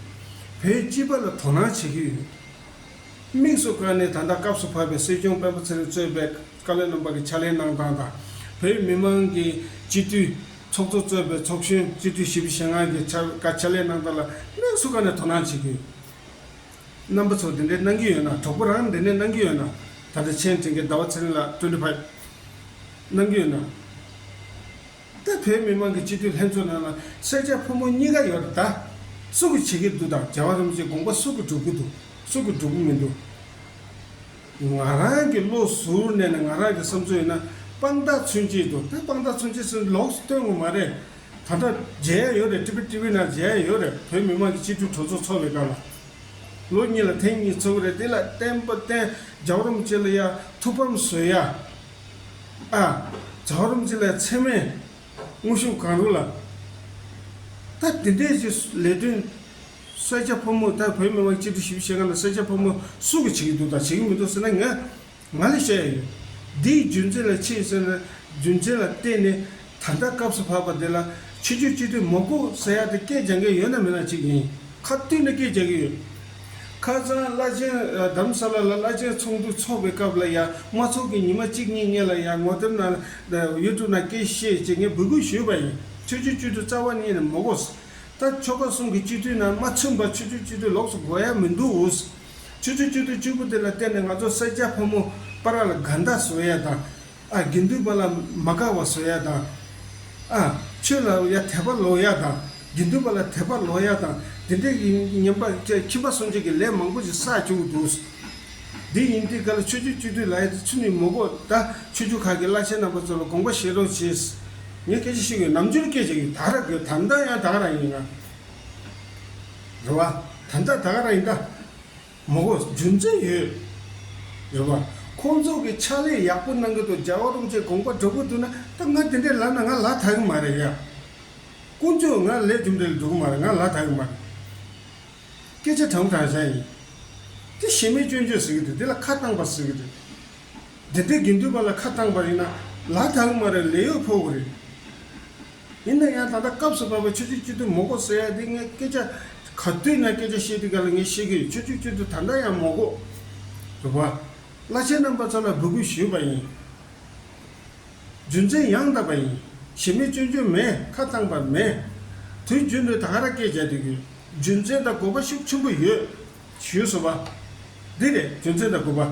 བོད་སྤྱི་པ་ལ་དོ་སྣང་བྱེད་ཀྱི་ཡོད། དམིགས་སུ་བཀར་ནས་ད་ལྟ་སྐབས་སུ་བབས་པའི་སྲིད་སྐྱོང་དཔོན་པོ་ཚེ་རིང་གཙོས་པའི་བཀའ་བློན་རྣམ་པ་གྱི་ཕྱག་ལེན་གནང་སྟངས་དང། བོད་མི་མང་གི་སྤྱི་འཐུས་ཚོགས་གཙོ་གཙོས་པའི་ཚོགས་གཞོན་སྤྱི་འཐུས་བཞི་པོ་ཞེ་ལྔ་གྱི་ཕྱག་བཀའ་ཕྱག་ལེན་གནང་སྟངས་ལ་དམིགས་སུ་བཀར་ནས་དོ་སྣང་བྱེད་ཀྱི་ཡོད། རྣམ་པ་ཚོ་འདི་འདྲའི་གནང་གི་ཡོད་ན་གྲོགས་པོ་རང་འདི་འདྲའི་གནང་གི་ཡོད་ན། ད་ལྟ་ཆེ་འབྲིང་གི་ཟླ་བ་ཚེ་རིང་ལགས་ཀྲོའུ་ལི་བྷ། གནང་གི་ཡོད་ན། ད་བོད་མི་མང་གི་སྤྱི་འཐུས་ལྷན་ཚོགས་ནང་ལ་སེར་སྐྱ་ཕོ་མོ་གཉིས་ཀ་ཡོད་རེད་ད། སུ་གི་བྱེད་ཀྱི་འདུག་དང་རྒྱལ་བ་རིན་པོ་ཆེ་དགོངས་པ་སུ་གི་སྒྲུབ་ཀྱི་འདུག་སུ་གི་སྒྲུབ་ཀྱི་མི་འདུག། ང་རང་གི་བློ་ཟུར་གནས་ནས་ང་རང་གི་བསམ་ཚུལ་ཡིན་ན་དཔང་རྟགས་མཚོན་གྱི་འདུག་ད་དཔང་རྟགས་མཚོན་གྱི་སུ་ལོགས་སུ་སྟོན་ངོ་མ་རེད། ད་ལྟ་མཇལ་ཡ་ཡོད་རེད་ཀྲི་པི་ཀྲི་བི་ནང་མཇལ་ཡ་ཡོད་རེད་བོད་མི་མང་གི་སྤྱི་འཐུས་གྲོས་ཚོགས་འཚོགས་པའི་སྐབས་ལ། ལོ་གཉིས་ལ་ཐེངས་གཉིས་འཚོགས་ཀྱི་རེད་དེ་ལ་བསྟན་པ་བསྟན་རྒྱལ་བ་རིན་པོ་ཆེ་ལ་ཡ་ཐུགས་ཕམ་བཟོས་ཡ། ཨ། བྱ་བ་རུམ་ཚེ་ལ་ཚད་མའི་དངོས་གཞུང་གང་རུང་ལ། ད་དེ་འདྲའི་ཆེ་ལས་དོན། ས་སྐྱ་ཕོ་མོ་ད་བོད་མི་མང་སྤྱི་འཐུས་ཞི་བ་ཤེས་མཁན་ལ་ས་སྐྱ་ཕོ་མོ་སུ་གི་བྱེད་ཀྱི་འདུག་དང་བྱེད་ཀྱི་མི་འདུག་ཟེར་ན་ངས་ང་ལས་བཤད་ཡ་ཡོད། འདིའི་རྒྱུ་མཚན་ལ་ཕྱེས་ཟེར་ན་རྒྱུ་མཚན་ལ་བརྟེན་ནས། ད་ལྟ་སྐབས་སུ་བབས་པ་འདི་ལ་ཆོས་རྒྱུད་སྤྱི་འཐུས་མོག་གུ་ཟེར་ཡག་དེ་སྐད་སྦྱང་མཁན་ཡོད་ན་མེད་ན་ཅིག་ཡིན་ཁ་བཏུད་ནས་སྐད་སྦྱང་གི་ཡོད། ཁ་རྩང་བླ་ཆེན་གདམ་ས་ལ་ལ་བླ་ཆེན་ཚོགས་འདུ་འཚོགས་པའི་སྐབས་ལ་ཡང་མ་ཚོགས་ཀྱི་ཉི་མ་གཅིག་གཉིས་ངེད་ལ་ཡང་ངོ་དེབ་ན YouTube ན་སྐད་བཤད་ཅེས་ངས་འབོད་སྐུལ་ཞུས་པ་ཡིན་ཆོས་རྒྱུད་སྤྱི་འཐུས་རྩ་བ་གཉིས་ནི་མོག་གུ། ད་ཆོལ་ཁ་གསུམ་གི་སྤྱི་འཐུས་ནང་མ་མཚོན་པར་ཆོས་རྒྱུད་སྤྱི་འཐུས་ལོགས་སུ་འགོ་ཡ་མི་འདུག་འུ་ཟ། ཆོས་རྒྱུད་སྤྱི་འཐུས་གཅིག་པུ་དེ་ལ་བརྟེན་ནས་ང་ཚོ་སེར་སྐྱ་ཕོ་མོ་པ་ར་ལ་དགའ་འདག་བཟོ་ཡ་དང། ཨ་དགེ་འདུན་པ་ལ་མ་དགའ་བ་བཟོ་ཡག་དང། ཨ་ཆོས་ལ་ཡ་དད་པ་ལོག་ཡག་དང་དགེ་འདུན་པ་ལ་དད་པ་ལོག་ཡག་དང་དེ་འདྲའི་ཡིན་ཉན་པ་ཅད་ཁྱིམ་པ་སོང་ཆོས་ཀྱི་ལས་མང་པོ་ཞིག་བསགས་བཅུག་འདུག། དེ་ཡིན་དུས་ག་ལ་ཆོས་རྒྱུད་སྤྱི་འཐུས་ལ་ཡ་དེ་ཚུན་ནས་མོ་གོ་ད་ཆོས་རྒྱུད་ཁག་གི་བླ་ཆེན་རྣམ་པ་ཚོ་ལ་དགོངས་པ་བཞེས་རོགས་བྱས། ངས་སྐད་ཆ་ཤོད་གི་ནམ་རྒྱུན་སྐད་ཆ་ཡིན་དག་ར་དགོས་དམ་དག་ཡང་དག་ར་ཡིན། རེད་བ། དམ་དག་དག་ར་ཡིན་ད། མོ་གོ་རྒྱུ་མཚན་ཡོད་རེད་བ། ཁོང་ཚོ་གི་ཕྱག་ལས་ཡག་པོ་གནང་གི་འདུག་རྒྱ་བ་རུང་བཅས་དགོངས་པ་འགྲོ་གི་འདུག་ན་ད་ང་དེ་འདྲའི་ལ་ན་ང་ལ་ད་གི་མ་རེད་ཡ། དཀོན་མཆོག་ང་ལས་རྒྱུ་འདྲའི་ལ་འགྲོ་གི་མ་རེད་ང་ལ་ད་གི་མ་རེད། སྐད་ཆ་དྲང་དྲང་བྱ་ཡིན། དེ་ཞེ་མེད་སྐྱོན་བརྗོད་ཟེར་གི་འདུག་དེ་ལ་ཁ་བཏང་པ་ཟེར་གི་འདུག་དེ་འདྲའི་དགེ་འདུན་པ་ལ་ཁ་བཏང་པ་ཡིན་ན་ལ་ད་གི་མ་རེད་ལས་ཡོད་ཕོག་གི་རེད། ཡིན་ན་ཡང་ད་ལྟ་སྐབས་སུ་བབས་པའི་ཆོས་བརྒྱུད་སྤྱི་འཐུས་མོག་གོ་ཟེར་ཡ་དེ་ངས་སྐད་ཆ་ག་དུས་ན་སྐད་ཆ་བཤད་དུས་ག་ལ་ངས་ཤེས་ཀྱི་ཡོད་ཆོས་བརྒྱུད་སྤྱི་འཐུས་ད་ལྟ་ཡང་མོག་གོ། རེད་བ། བླ་ཆེན་རྣམ་པ་ཚོ་ལ་འབོད་སྐུལ་ཞུས་པ་ཡིན། རྒྱུ་མཚན་ཡང་བཏབ་པ་ཡིན། ཞེ་མེད་སྐྱོན་བརྗོད་མེད་ཁ་བཙང་པ་མེད། དུས་རྒྱུན་དུ་དག་ར་སྐད་བརྒྱག་དུས་ཀྱི་རྒྱུ་མཚན་དང་དགོས་པ་ཤུགས་ཆེན་པོ་ཡོད། ཞུས་སོ་བ། འདི་རེད་རྒྱུ་མཚན་དང་དགོས་པ།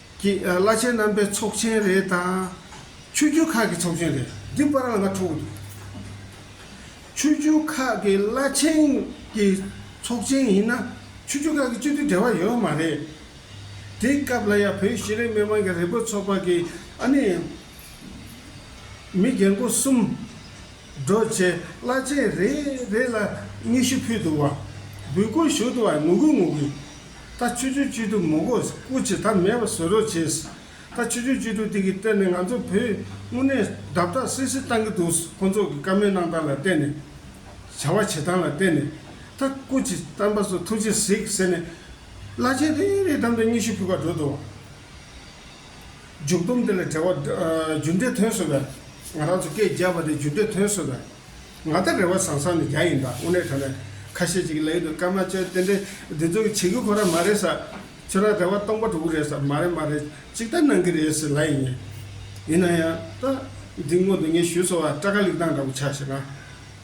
ཀྱི་བླ་ཆེན་རྣམ་པའི་ཚོགས་ཆེན་རེ་དང། ཆོས་རྒྱུད་ཁག་གི་ཚོགས་ཆེན་རེ་འདི་པར་ལ་ང་འཁྲུངས་འདུག་ཆོས་རྒྱུད་ཁག་གི་བླ་ཆེན་གྱི་ཚོགས་ཆེན་ཡིན་ན་ཆོས་རྒྱུད་ཁག་གི་སྤྱི་འཐུས་འབྲེལ་བ་ཡོད་མ་རེད། དེའི་སྐབས་ལ་ཡང་བོད་ཤེས་རིག་མི་མང་གི་རེ་འབོད་ཚོགས་པ་གི་ཨ་ནི་མི་རྒན་པོ་གསུམ། སྒྲོལ་བྱེད་བླ་ཆེན་རེ་རེ་ལ་སྙན་ཞུ་ཕུལ་འདུག་བ་འབུལ་སྐུར་ཞུ་འདུག་བ་ངུ་གུ་ངུ་གུ་ད་ཆུ་ཆུན་སྐྱིད་སྡུག་མོ་གོས་སྐུ་ཆེ་ཐ་མལ་བ་བཟོས་རོགས་བྱེད། ད་ཆུ་ཆུན་སྐྱིད་སྡུག་དེ་གི་གཏེར་ནས་ང་ཚོ་བོད་དངོས་གནས་བརྡབ་བརྡབ་སིལ་སིལ་བཏང་གི་འདུག་ཁོ་ཚོ་གི་བཀའ་མོལ་གནང་སྟངས་ལ་བལྟས་ནས། བྱ་བ་བྱེད་སྟངས་ལ་བལྟས་ནས། ད་སྐུ་ཆེ་གཏམ་པ་ཚོ་ཐུགས་རྗེ་གཟིགས་ཟེར་ནས། བླ་ཆེན་རེ་རེའི་གདམ་གྲ་སྙི་ཞུ་ཕུལ་བར་འགྲོ་འདུག། མཇུག་སྡོམ་དེ་ལ་འབྲེལ་བ། རྒྱུ་འབྲས་ཐོན་བཟོ་བས། ང་རང་ཚོ་སྐད་རྒྱབ་པ་དེ་རྒྱུ་འབྲས་ཐོན་བཟོ་བས། ང་ལྟར་རེ་བ་བཟང་ས་ནི་རྒྱ་ཡིན་ད་དབུ་ནས་ད་ནས་ཁ་ཤས་ཅིག་ལས་ཡུལ་དུ་སྐར་མ་བཅོ་ལྟེ་འདྲེ་འདི་ཚོ་གི་བྱེད་རྒྱུ་ཁོ་ར་མ་རེད་ས་ཁྱོད་ར་རེ་བ་སྟོང་པ་དྲུག་རེད་ས་མ་རེད་མ་རེད་ཅིག་ད་གནང་གི་རེད་ཟེར་ལ་ཡིན། ཡིན་ན་ཡང་ད་འདི་སྔོན་དུ་ངས་ཞུས་སོ་བ་སྐྲ་ཁ་ལིག་ཏང་འདྲ་པོ་ཆགས་ཤེ་ན་བྱ་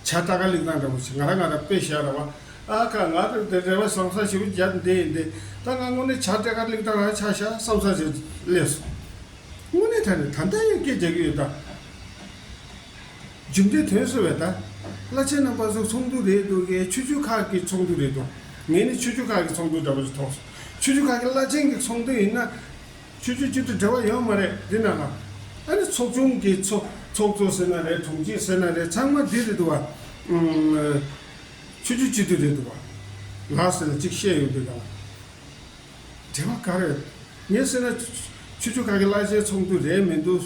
སྐྲ་ཁ་ལིག་ཏང་འདྲ་པོ་ཆེ་ང་ར་ང་ར་དཔེ་བཞག་ར་བ་ཨ་ཁ་ང་ལྟར་དེ་རེ་བ་བཟང་ས་ཞུ་རྒྱ་འདི་ཡིན་འདི་ད་ང་དངོས་གནས་བྱ་སྐྲ་ཁ་ལིག་ཏང་ར་ཆགས་ཤ་བསམ་ས་ཟེར་སླེབས་སོང་དངོས་གནས་ད་ནས་ད་ལྟ་ཡང་སྐད་རྒྱག་གི་ཡོད་ད། རྒྱུ་མདོའི་དོན་གསོལ་བའི་བརྡ། བླ་ཆེན་རྣམ་པ་གཟུགས་ཚོགས་འདུ་རེད་འདུག་གས་ཆོས་རྒྱུད་ཁག་གི་ཚོགས་འདུ་རེད་འདུག་ངས་ནི་ཆོས་རྒྱུད་ཁག་གི་ཚོགས་འདུ་འདྲ་པོ་ཞིག་མཐོང་སོང། ཆོས་རྒྱུད་ཁག་གི་བླ་ཆེན་གྱི་ཚོགས་འདུ་ཡིན་ན། ཆོས་རྒྱུད་གཅིག་ཏུ་འབྲེལ་བ་ཡོད་མ་རེད་འདི་ན་ལ། ཨ་ནི་ཚོགས་ཆུང་གི་ཚོགས་ཚོགས་གཙོ་ཟེར་ན་རེད་དྲུང་ཆེ་ཟེར་ན་རེད་ཚང་མ་འདི་རེད་འདུག་བ། ཆོས་རྒྱུད་གཅིག་ཏུ་རེད་འདུག་བ། ལ་ཟེར་ན་གཅིག་བཤད་ཡོང་འདུག་ག་ལ། འབྲེལ་བ་ག་རེ་ཡོད། ངས་ཟེར་ན། ཆོས་རྒྱུད་ཁག་གི་བླ་ཆེན་ཚོགས་འདུ་རེད་མི་འདུག།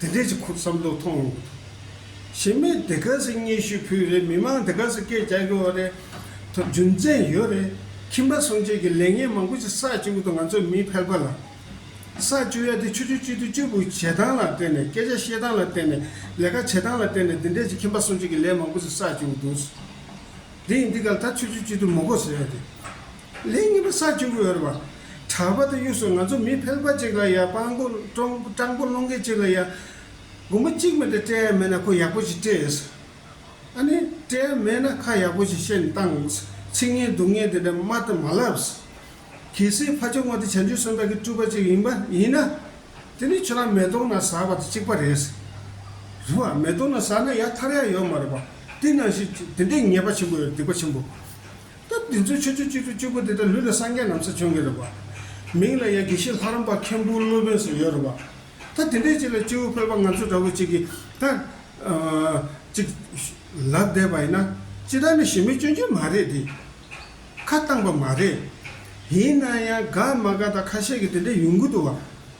དེ་འདྲས་ཀྱི་ཁུར་བསམ་དུ་ཐོངས་མྱོང་མི་འདུག་གཞི་མེད་སྡེ་དགེ་སེ་སྙེ་ཤུལ་བུའི་རེད་མི་མང་སྡེ་དགེ་སེ་སྐད་རྒྱག་གི་བ་རེད་དོ་རྒྱུ་མཚན་ཡོད་རེད་ཁྱིམ་པ་སྲུང་བྱེད་ཀྱི་ལས་ངན་མང་པོ་ཞིག་ས་བཅུ་དུ་ང་ཚོ་མིའི་ཕལ་པ་ལ་ས་བཅུ་ཡ་དེ་ཆུ་ཆུ་བཅུ་དུ་བཅུ་བུ་བྱེད་སྟངས་ལ་བརྟེན་ནས་སྐད་ཆ་བཤད་སྟངས་ལ་བརྟེན་ནས་ལས་ཀ་བྱེད་སྟངས་ལ་བརྟེན་ནས་འདི་འདྲས་ཀྱི་ཁྱིམ་པ་སྲུང་བྱེད་ཀྱི་ལས་མང་པོ་ཞིག་ས་བཅུ་དུ་འདུག་ཟེར་དེ་ཡིན་འདི་ག་ལ་ད་ཆུ་ཆུ་བཅུ་དུ་མོ་གོ་ཟེར་ཡོད་དེ། ལན་གཉིས་པ་ས་བཅུ་པའི་འོད་འབར། གྲགས་པ་དང་གཡུ་སོགས་ང་ཚོ་མི་ཕལ་པ་ཅིག་ལ་ཡང་དཔང་པོ་སྤྲང་པོ་སློང་མཁན་ཅིག་ལ་ཡང་སྒོར་མོ་གཅིག་མེད་དུ་སྤྲད་ཡ་མེད་ན་ཁོ་ཡག་པོ་ཞིག་སྤྲད་ཡོད་ས། ཨ་ནི་སྤྲད་ཡ་མེད་ན་ཁ་ཡག་པོ་ཞིག་བཤད་ནས་བཏང་ཡོད་ས། ཚིག་ངན་སྡུག་ངན་དེ་འདྲ་སྨྲ་དང་མ་ལབ་ས། གལ་སྲིད་ཕ་ཆོས་ངོ་དེ་བྱང་ཆུབ་སེམས་དཔའ་གི་སྤྲུལ་པ་ཅིག་ཡིན་པ་ཡིན་ན། དེ་ནི་ཁྱོད་རང་མེ་དོང་ན་ཟག་པ་དང་གཅིག་པ་རེད་ས། རེད་བ། མེ་དོང་ན་ཟག་ན་ཡར་ཐར་ཡག་ཡོད་མ་རེད་བ། དེ་ནང་བཞིན་དེ་འདྲའི་ཉེས་པ་ཆེན་པོ་ཡོད་སྡིག་པ་ཆེན་པོ། སྐབས་བདུན་ཚུན་ཆོས་སྤྱོད་བཅུ་དྲུག་བཅུ་དགུ་དེ་དག་ལུས་ལ་སངས་རྒྱས་རྣམས་སུ་བྱོན་གྱི་རུ་བ། མིང་ལ་ཡང་དགེ་བཤེས་ལྷ་རམས་པ་མཁན་པོའི་སློབ་དཔོན་སུ་ཡོད་རུ་བ། ད་དེ་འདྲའི་ཅིག་ལ་སྤྱི་བོའི་དཔལ་པ་ང་ཚོ་འདྲ་བོ་ཅིག་གིས་ད། ཅིག། ལབ་བསྡད་པ་ཡིན་ན། ཅི་ད་ནི་ཞི་མི་སྐྱོན་གྱི་མ་རེད་དེ། ཁ་བཏང་པ་མ་རེད། ཡིན་ན་ཡང་དགའ་མ་དགའ་ད་ཁ་ཤས་ཀྱིས་དེ་འདྲའི་ཡོང་གི་འདུག་བ།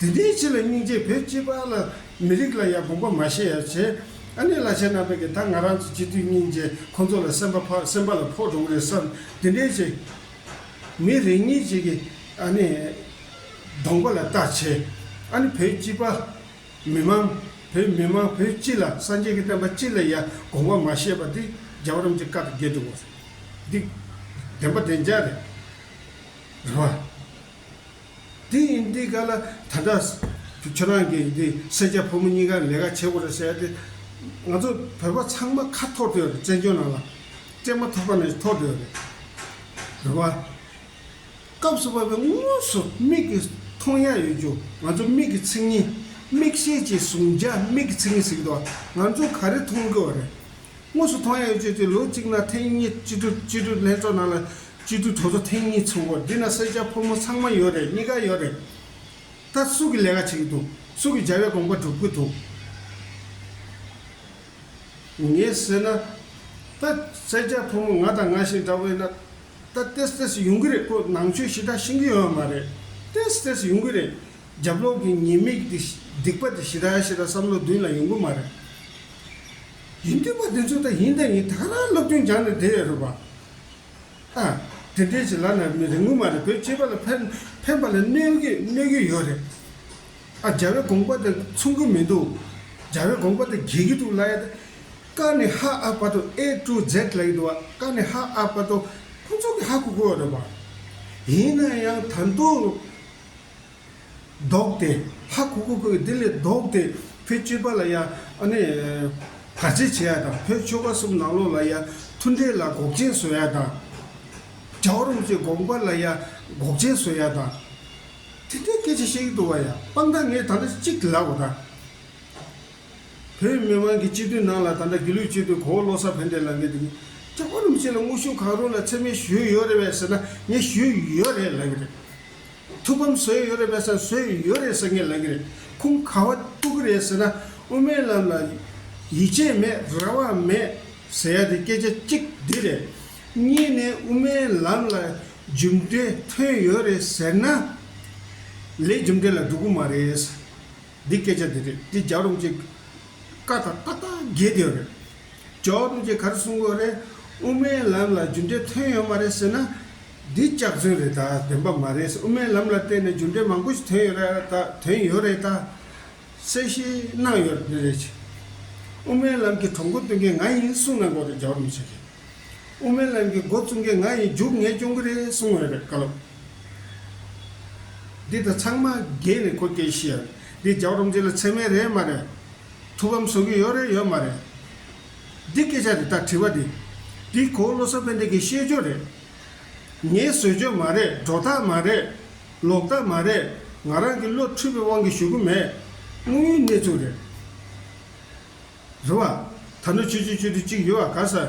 དེ་ལྟའི་ཕྱིར་ལ་སྙིང་རྗེ་བོད་སྤྱི་པ་ལ་མི་རིགས་ལ་ཡང་དགོངས་པ་མ་བཞེས་ཡ་བྱས། ཨ་ནེ་བླ་ཆེན་རྣམ་པས་ཀྱང་ད་ང་རང་ཚོ་སྤྱི་མཐུས་སྙིང་རྗེ་ཁོང་ཚོ་ལ་སེམས་པ་ཕག་སེམས་པ་ལ་ཕོག་འགྲོ་ངེས་སམ་དེ་འདྲའི་ཆེ། མི་རེ་གཉིས་ཅིག་གིས་ཨ་ནེ། གདོང་པ་ལ་བལྟ་བྱས། ཨ་ནེ་བོད་སྤྱི་པ། མི་མང། བོད་མི་མང་བོད་སྤྱི་ལ་སངས་རྒྱས་ཀྱི་བསྟན་པ་སྤྱི་ལ་ཡང་དགོངས་པ་མ་བཞེས་པ་འདི་རྒྱ་བོད་རམ་གྱི་བཀའ་དང་འགལ་འགྲོ་གོ། འདི་བདེན་པ་བདེན་རྒྱ་རེད། རེད་བ། དེ་ཡིན་དུས་ག་ལ་ད་ལྟ། ཁྱོད་རང་གི་འདི་སེར་སྐྱ་ཕོ་མོ་གཉིས་ཀ་ལས་ཀ་བྱེད་དགོས་རེད་ཟེར་དེ། ང་ཚོ་བོད་པ་ཚང་མ་ཁ་འཐོར་དུ་ཡོད་རེད་བཙན་བྱོལ་ནང་ལ། སྤྲད་མ་ཐག་པ་ནས་འཐོར་དུ་ཡོད་རེད། བོད་པ། སྐབས་སུ་བབས་པའི་དངོས་སུ་མིག་གིས་མཐོང་ཡ་ཡོད་རྒྱུ་ང་ཚོ་མིག་གི་ཚིག་གཉིས། མིག་ཤེས་ཀྱིས་བཟུང་བྱ་མིག་གི་ཚིག་གཉིས་ཟིག་འདུག་ང་ཚོ་ག་རེ་མཐོང་དགོས་བ་རེད། དངོས་སུ་མཐོང་ཡང་ཡོད་ཅེས་ཏེ་ལོ་གཅིག་ན་ཐེངས་གཉིས་སྤྱི་འཐུས་སྤྱི་འཐུས་ལྷན་ཚོགས་ནང་ལ་སྤྱི་འཐུས་གྲོས་ཚོགས་ཐེངས་གཉིས་ཚུགས་སྐོར་འདི་ན་སེར་སྐྱ་ཕོ་མོ་ཚང་མ་ཡོད་རེད་གཉིས་ཀ་ཡོད་རེད། ད་སུ་གི་ལས་ཀ་བྱེད་ཀྱི་འདུག་སུ་གི་བྱ་བའི་དགོངས་པ་སྒྲུབ་ཀྱི་འདུག་ངས་ཟེར་ན། ད་སེར་སྐྱ་ཕོ་མོ་ང་དང་ང་བཞིན་འདྲ་བས་ན། ད་ལྟེ་སི་ལྟེ་སི་ཡོང་གི་རེད་ཁོ་ནང་ཆོས་ཞི་དྲག་ཤིང་གི་ཡོད་མ་རེད་ལྟེ་སི་ལྟེ་སི་ཡོང་གི་རེད། རྒྱབ་ལོག་གི་ཉེས་དམིགས་དེ་སྡིག་པ་དེ་ཞི་དྲག་ཞི་དྲག་བསམ་བློ་མདུན་ལ་ཡོང་གི་མ་རེད། ཡིན་དུས་པ་དེ་ཚོ་ད་ཡིན་ད་ཡིན་དག་རང་སློབ་སྟོན་སྦྱང་ནས་བསྡད་ཡོད་རེད་བ། ཨ། དེ་འདྲའི་བྱེད་ལ་ན་མི་རེ་ངོ་མ་རེ་བོད་སྤྱི་པ་ལ་ཕན་ཕན་པ་ལ་གནོད་གི་གནོད་གི་ཡོད་རེད། ཨ་རྒྱ་བའི་དགོངས་པ་དེ་མཚུངས་གི་མི་འདུག་རྒྱ་བའི་དགོངས་པ་དེ་འགལ་གི་འདུག་ལ་ཡ། ཀ་ནི་ཧ་ཨ་བ་དོ་ཨེ་ཀྲུ་ཛེད་ལ་ཡི་འདུག་བ་ཀ་ནི་ཧ་ཨ་བ་དོ་ཁོང་ཚོ་གི་ཧ་གོ་གི་ཡོད་རེད་བ། ཡིན་ན་ཡང་ད་དུང། བཟློག་སྟེ། ལྷ་ཁུ་ཁུ་ཁུ་དེ་ལས་བཟློག་སྟེ། ཕོའི་སྤྱོད་པ་ལ་ཡང། བར་ཆད་བྱེད་ཡ་དང་ཕོའི་ཆོ་ག་གསུམ་ནང་ལོགས་ལ་ཡང། མཐུན་འབྲེལ་ལ་འགོག་རྐྱེན་བཟོ་ཡ་དང། བྱ་བ་རུང་ཚོད་འགོག་པ་ལ་ཡང་འགོག་རྐྱེན་བཟོ་ཡ་དང། དེ་འདྲའི་སྐད་ཆ་ཤེས་ཀྱི་འདུག་བ་ཡང་སྤང་ད་ངས་ད་འདྲ་གཅིག་གི་ལབ་བ་དང། བོད་མི་དམངས་ཀྱི་སྤྱི་དོན་ནང་ལ་ད་འདྲ་དགེ་ལུགས་སྤྱི་དོན་གོ་བློ་ས་བོན་འདྲེ་ལ་ངས་དེ་གཉིས། བྱ་བ་རུང་ཚོད་ལ་དངོས་ཤུགས་གང་རུང་ལ་འཚེ་མེད་ཞུས་ཡོད་རེད་བས་ཟེར་ན་ངས་ཞུས་ཡོད་རེད་ལབ་ཀྱི་རེད། ཐུགས་ཕམ་བཟོས་ཡོད་རེད་དཔེ་ས་བཟོས་ཡོད་རེད་ཟེར་མཁན་ལ་གི་རེད་ཁུངས་ཁ་བ་ལྟུག་གི་རེད་ཟེར་ན་དབུ་མའི་ལམ་ལ་ཡིད་ཆེས་མེད་རེ་བ་མེད་ཟེར་ཡ་དེ་སྐད་ཆ་གཅིག་འདི་རེད། གཉིས་ནས་དབུ་མའི་ལམ་ལ་རྒྱུ་འབྲས་ཐོན་ཡོད་རེད་ཟེར་ན་ལས་རྒྱུ་འབྲས་ལ་འགྲོ་གི་མ་རེད། འདི་སྐད་ཆ་འདི་རེད་འདི་རྒྱག་རུང་ཅིག་བཀའ་ཐང་ཏག་ཏག་རྒྱས་བསྡད་ཡོད་རེད། ཇོ་བོ་རྡོ་རྗེ་གར་སོང་གོ་རེད། དབུ་མའི་ལམ་ལ་རྒྱུ་འབྲས་ཐོན་ཡོད་མ་རེད་ཟེར་ན། འདི་སྐྱག་རྫུན་རེད་ད་བདེན་པ་མ་རེད་དབུ་མའི་ལམ་ལ་བལྟས་ནས་རྒྱུ་འབྲས་མང་པོ་ཞིག་ཐོན་ཡོད་རེད་ད་དོན་ཡོད་རེད་ད། གསལ་བཤད་གནང་ཡོད་རེད། དབུ་མའི་ལམ་གྱི་གྲོགས་འགོ་བསྟུན་མཁན་ང་ཡིན་གསུང་གནང་གོ་རེད་རྒྱབ་རོམ་བྱེད་མཁན། དབུ་མའི་ལམ་གྱི་འགོ་བཙུགས་མཁན་ང་ཡིན་རྒྱུགས་ངས་སྐྱོང་གི་རེད་གསུང་ཡོད་རེད་བཀའ་སློབ། འདི་ད་ཚང་མ་རྒས་ནས་ཁོ་སྐད་ཤི་ཡ་རེད་འདི་རྒྱབ་རོམ་བྱེད་ལ་ཚད་མེད་རེད་མ་རེད། ཐུགས་ཕམ་བཟོ་གི་ཡོད་རེད་ཡོད་མ་རེད། འདི་སྐད་ཆ་དེ་ལྟར་དྲི་བ་འདི། འདི་གོ་བློ་གསར་པའི་འདི་གི་ཤེས་སྦྱོར་རེད། ངའི་བཟོས་བཅོས་མ་རེད་སྒྲོ་བཏགས་མ་རེད། ལོག་ལྟ་མ་རེད་ང་རང་གི་བློ་འཁྲུལ་པའི་དབང་གིས་ཞུ་གི་མེད། དངོས་ཡོད་གནས་ཚུལ་རེད། རེད་བ། ད་ནུ་ཆོས་སྤྱོད་བཅོས་སྒྲིག་ཅིག་ཡོད་བ་ག་ས།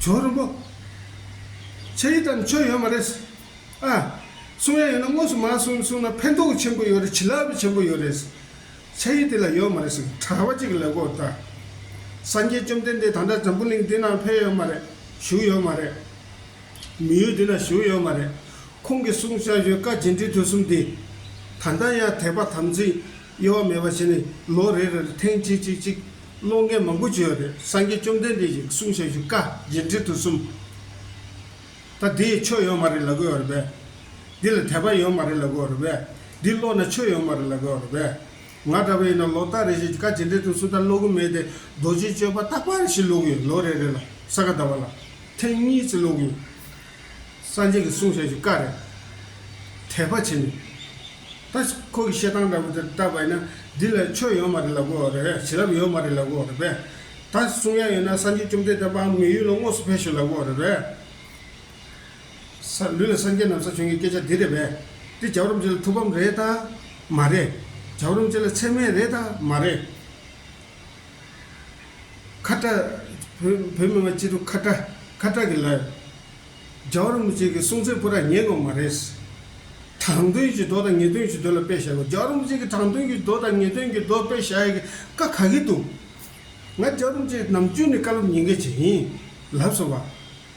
ཇོ་རིན་པོ། ཆ་ཡིས་ལྟར་ན་ཆོས་ཡོད་མ་རེད། ཨ། གསུང་ཡ་ཡོད་ན་དངོས་སུ་མ་གསུང་གསུང་ན་ཕན་ཐོགས་ཆེན་པོ་ཡོད་རེད་བྱིན་རླབས་བས་ཆེན་པོ་ཡོད་རེད། ཆ་ཡིས་དེ་ལ་ཡོད་མ་རེད་ཟེར་གི་གྲྭ་བ་གཅིག་གི་ལས་སྒོར་བལྟ། སངས་རྒྱས་བཅོམ་ལྡན་འདས་ད་ལྟ་འཛམ་བུ་གླིང་འདི་ནང་ཕེབས་ཡོད་མ་རེད་བཞུགས་ཡོད་མ་རེད། མི་ཡུལ་འདི་ན་བཞུགས་ཡོད་མ་རེད། ཁོང་གི་གསུང་བྱ་བཞོན་བཀའ་རྗེ་འབྲི་ཐོས་གསུམ་འདི། ད་ལྟ་ཡང་དད་པ་དམ་ཚིག་དབྱེ་བ་མེད་པར་བྱས་ནས་ལོ་རེ་རེར་ཐེངས་གཅིག་གཅིག་གཅིག་ཀློག་མཁན་མང་པོ་བྱོས་པ་དེར་སངས་རྒྱས་བཅོམ་ལྡན་འདས་ཀྱིས་གསུང་བྱ་བཞུགས་བཀའ་རྒྱན་དྲིལ་དུ་གསུམ། ད་འདི་ཡིས་ཆོས་ཡོང་མ་རེད་ལབ་དགོས་བ་རེད་པས། འདི་ལ་དད་པ་ཡོང་མ་རེད་ལབ་དགོས་བ་རེད་པས། འདི་ཀློག་ན་ཆོས་ཡོང་མ་རེད་ལབ་དགོས་བ་རེད་པས། ང་འདྲ་བས་ཡིན་ན་ལོ་རྟགས་རེ་བཞིན་བཀའ་རྒྱན་དྲིལ་དུ་གསུམ་ལྟར་ཀློག་གི་མེད་དེ་རྡོ་རྗེའི་སྤྱོད་པ་རྟག་པ་རེ་བཞིན་ཀློག་གི་ཡོད་ལོ་རེ་རེ་ལ་ས་ག་ཟླ་བ་ལ་ཐེངས་གཉིས་ཙི་ཀློག་གི་ཡོད། སངས་རྒྱས་ཀྱི་གསུང་ཆོས་ཀྱི་བཀའ་རེད། དད་པ་བྱེད་ནས། ད་ཁོ་གི་བཤད་སྟངས་ལྟ་བུ་དེར་བལྟ་བས་ན་འདི་ལ་ཆོས་ཡོད་མ་རེད་ལབ་དགོས་རེད་བྱིན་རླབས་ཡོད་མ་རེད་ལབ་དགོས་རེད་པས། ད་གསུང་ཡ་ཡོད་ན་སངས་རྒྱས་བཅོམ་ལྡན་འདས་འབངས་མི་ཡུལ་ལ་དངོས་སུ་ཕེབས་ཤིག་ལབ་དགོས་རེད་པས། ས་ལུས་ལ་སངས་རྒྱས་ནམ་ས་བྱོན་གྱི་སྐད་ཆ་འདི་རེད་པས། འདི་རྒྱབ་རོམ་ཅན་ལ་ཐུགས་ཕམ་རེད་དཱ། མ་རེད། རྒྱབ་རོམ་ཅན་ལ་ཚད་མེད་རེད་དཱ། མ་རེད། ཁ་བཀྲ། བོད་མི་མ་སྤྱི་དུ་ཁ་བཀྲ་ཁ་བཀྲ་གི་ལབ། རྒྱ་བོར་མི་བྱེད་གི་སྲོང་བཙན་པོ་ར་ཉེ་ནོ་མ་རེད། དྲང་དོན་གྱི་མདོ་དང་ངེས་དོན་གྱི་མདོ་ལ་དཔེ་བཞག་དགོས་རྒྱ་བོར་མི་བྱེད་གི་དྲང་དོན་གྱི་མདོ་དང་ངེས་དོན་གྱི་མདོ་དཔེ་བཞག་ཡག་གི་ཀ་ག་གི་འདུག། ང་རྒྱ་བོར་མི་བྱེད་ནམ་རྒྱུན་ནས་བཀའ་སློབ་ཉིན་འགའི་བྱེད་ཡིན་ལབ་སོང་བ།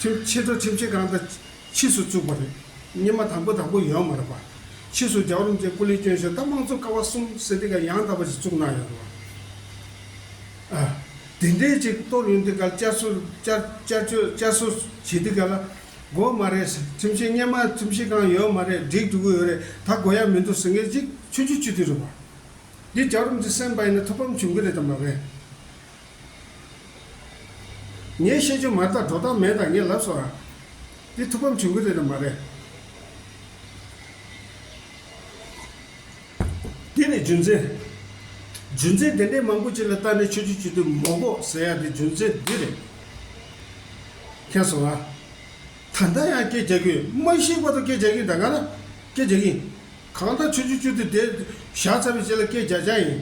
ཁྲིམས་ཕྱི་དྲོ་ཁྲིམས་ཆད་གང་དང་ཕྱིས་སུ་བཙུགས་པ་རེད། སྙེ་མ་དང་པོ་དང་པོ་ཡོད་མ་རེད་པ། ཕྱིས་སུ་རྒྱ་གར་རིམ་བཅས་སྐུ་ལས་སྐྱོན་ཞོག་ད་དམངས་གཙོ་ཀ་བ་གསུམ་ཟེར་དེ་ག་ཡང་དག་པ་ཞིག་བཙུགས་གནང་ཡོད་རེད་བ། ཨ། དེ་འདྲའི་ཅིག་གཏོར་ཡོང་དེ་ག་བསྐྱར་གསོ་བསྐྱར་བསྐྱར་བཅོས་བསྐྱར་གསོ་བྱེད་དེ་ག་ལ་དགོས་མ་རེད། ཁྲིམས་ཆད་སྙེ་མ་ཁྲིམས་གཞི་གང་ཡོད་མ་རེད་སྒྲིག་འགྲོ་གི་ཡོད་རེད་ད་དགོས་ཡ་མི་འདུག་ཟེར་མཁན་ཅིག་ཆོས་རྒྱུད་སྤྱི་འཐུས་རེད་བ། འདི་རྒྱ་གར་རིམ་བཅས་སེམས་དཔའ་ཡིན་ན་ཐུགས་ཕམ་བྱུང་གི་རེད་དམ་པ་རེད། ངས་བཤད་རྒྱུ་མ་བརྟགས་འགྲོ་སྟངས་མེད་དང་ངས་ལབ་སོང་ཨ། འདི་ཐུགས་ཕམ་བྱུང་གི་རེད་དམ་མ་རེད། འདི་ནི་རྒྱུ་མཚན། རྒྱུ་མཚན་དེ་འདྲའི་མང་པོ་ཅིག་ལ་བརྟགས་ནས་ཆོས་རྒྱུད་སྤྱི་འཐུས་མོ་པོ་ཟེར་ཡག་དེ་རྒྱུ་མཚན་འདི་རེད། མཁྱེན་སོང་ཨ། ད་ལྟ་ཡང་སྐད་རྒྱག་གི་མ་ཤེས་པ་དང་སྐད་རྒྱག་གིན་གདའ་ག་ན་སྐད་རྒྱག་གིན། གང་ལྟར་ཆོས་རྒྱུད་སྤྱི་འཐུས་དེ་ཞག་ཚ་བའི་རྗེས་ལ་སྐད་རྒྱག་བྱ་ཡིན།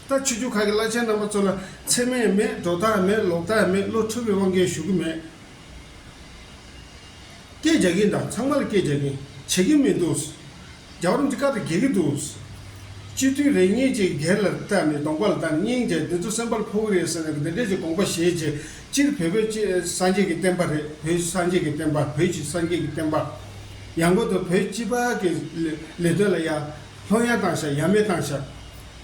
ལྟ་ཆུ་རྒྱུ་ཁག་གི་བླ་ཆེན་རྣམ་པ་ཚོ་ལ་འཚེ་མེད་མེད་སྒྲོ་བཏགས་མེད་ལོག་ལྟ་མེད་བློ་འཁྲུལ་བའི་དབང་གིས་ཞུ་གི་མེད། སྐད་རྒྱག་གིན་དང་ཚང་མ་ལ་སྐད་རྒྱག་གིན་བྱེད་ཀྱི་མི་འདུག། རྒྱ་རོམ་གྱི་ཀ་དེ་འགེལ་གྱི་འདུག། སྤྱི་འཐུས་རེ་གཉིས་ཀྱིས་སྒེར་ལ་བལྟ་ནས་གདོང་པ་ལ་བལྟ་ནས་སྙིང་རྗེ་འདི་ཚོ་སེམས་པ་ལ་ཕོག་གི་རེད་ཟེར་ནས་འདི་འདྲས་ཀྱི་དགོངས་པ་བཞེས་རྗེས་སྤྱིར་བོད་པའི་སྤྱི་སངས་རྒྱས་ཀྱི་བསྟན་པ་རེད་བོད་སངས་རྒྱས་ཀྱི་བསྟན་པ་བོད་ཀྱི་སངས་རྒྱས་ཀྱི་བསྟན་པ། ཡང་སྒོས་དུ་བོད་སྤྱི་པ་གི་ལས་དོན་ལ་ཡར་ལྷོང་ཡར་བཏང་ཤག་ཡར་མེད་བཏང་ཤག།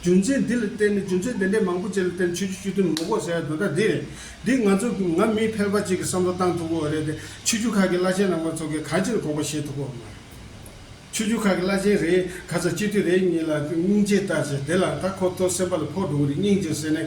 རྒྱུ་མཚན་འདི་ལ་བརྟེན་ནས་རྒྱུ་མཚན་དེ་འདྲའི་མང་པོ་བཅས་ལ་བརྟེན་ནས་ཆོས་རྒྱུད་སྤྱི་དོན་ངོ་ལྐོག་ཟེར་བ་འདི་འདྲ་འདི་རེད། འདི་ང་ཚོ་གི་ང་མི་ཕལ་པ་ཅིག་གི་བསམ་བློ་བཏང་ཐུབ་པོ་བ་རེད་དེ་ཆོས་རྒྱུད་ཁག་གི་བླ་ཆེན་རྣམས་པ་ཚོ་གིས་གང་ཅིར་དགོངས་པ་བཞེས་ཐུབ་པོ་བ་མ་རེད། ཆོས་རྒྱུད་ཁག་གི་བླ་ཆེན་རེ་ག་ཚོ་སྤྱི་འཐུས་རེ་གཉིས་ལ་སྙིང་རྗེ་ལྟར་བྱས་དེ་ལ་ད་ཁོ་ཚོ་སེམས་པ་ལ་ཕོག་འགྲོ་གི་རེད་སྙིང་རྗེ་ཟེར་ནས་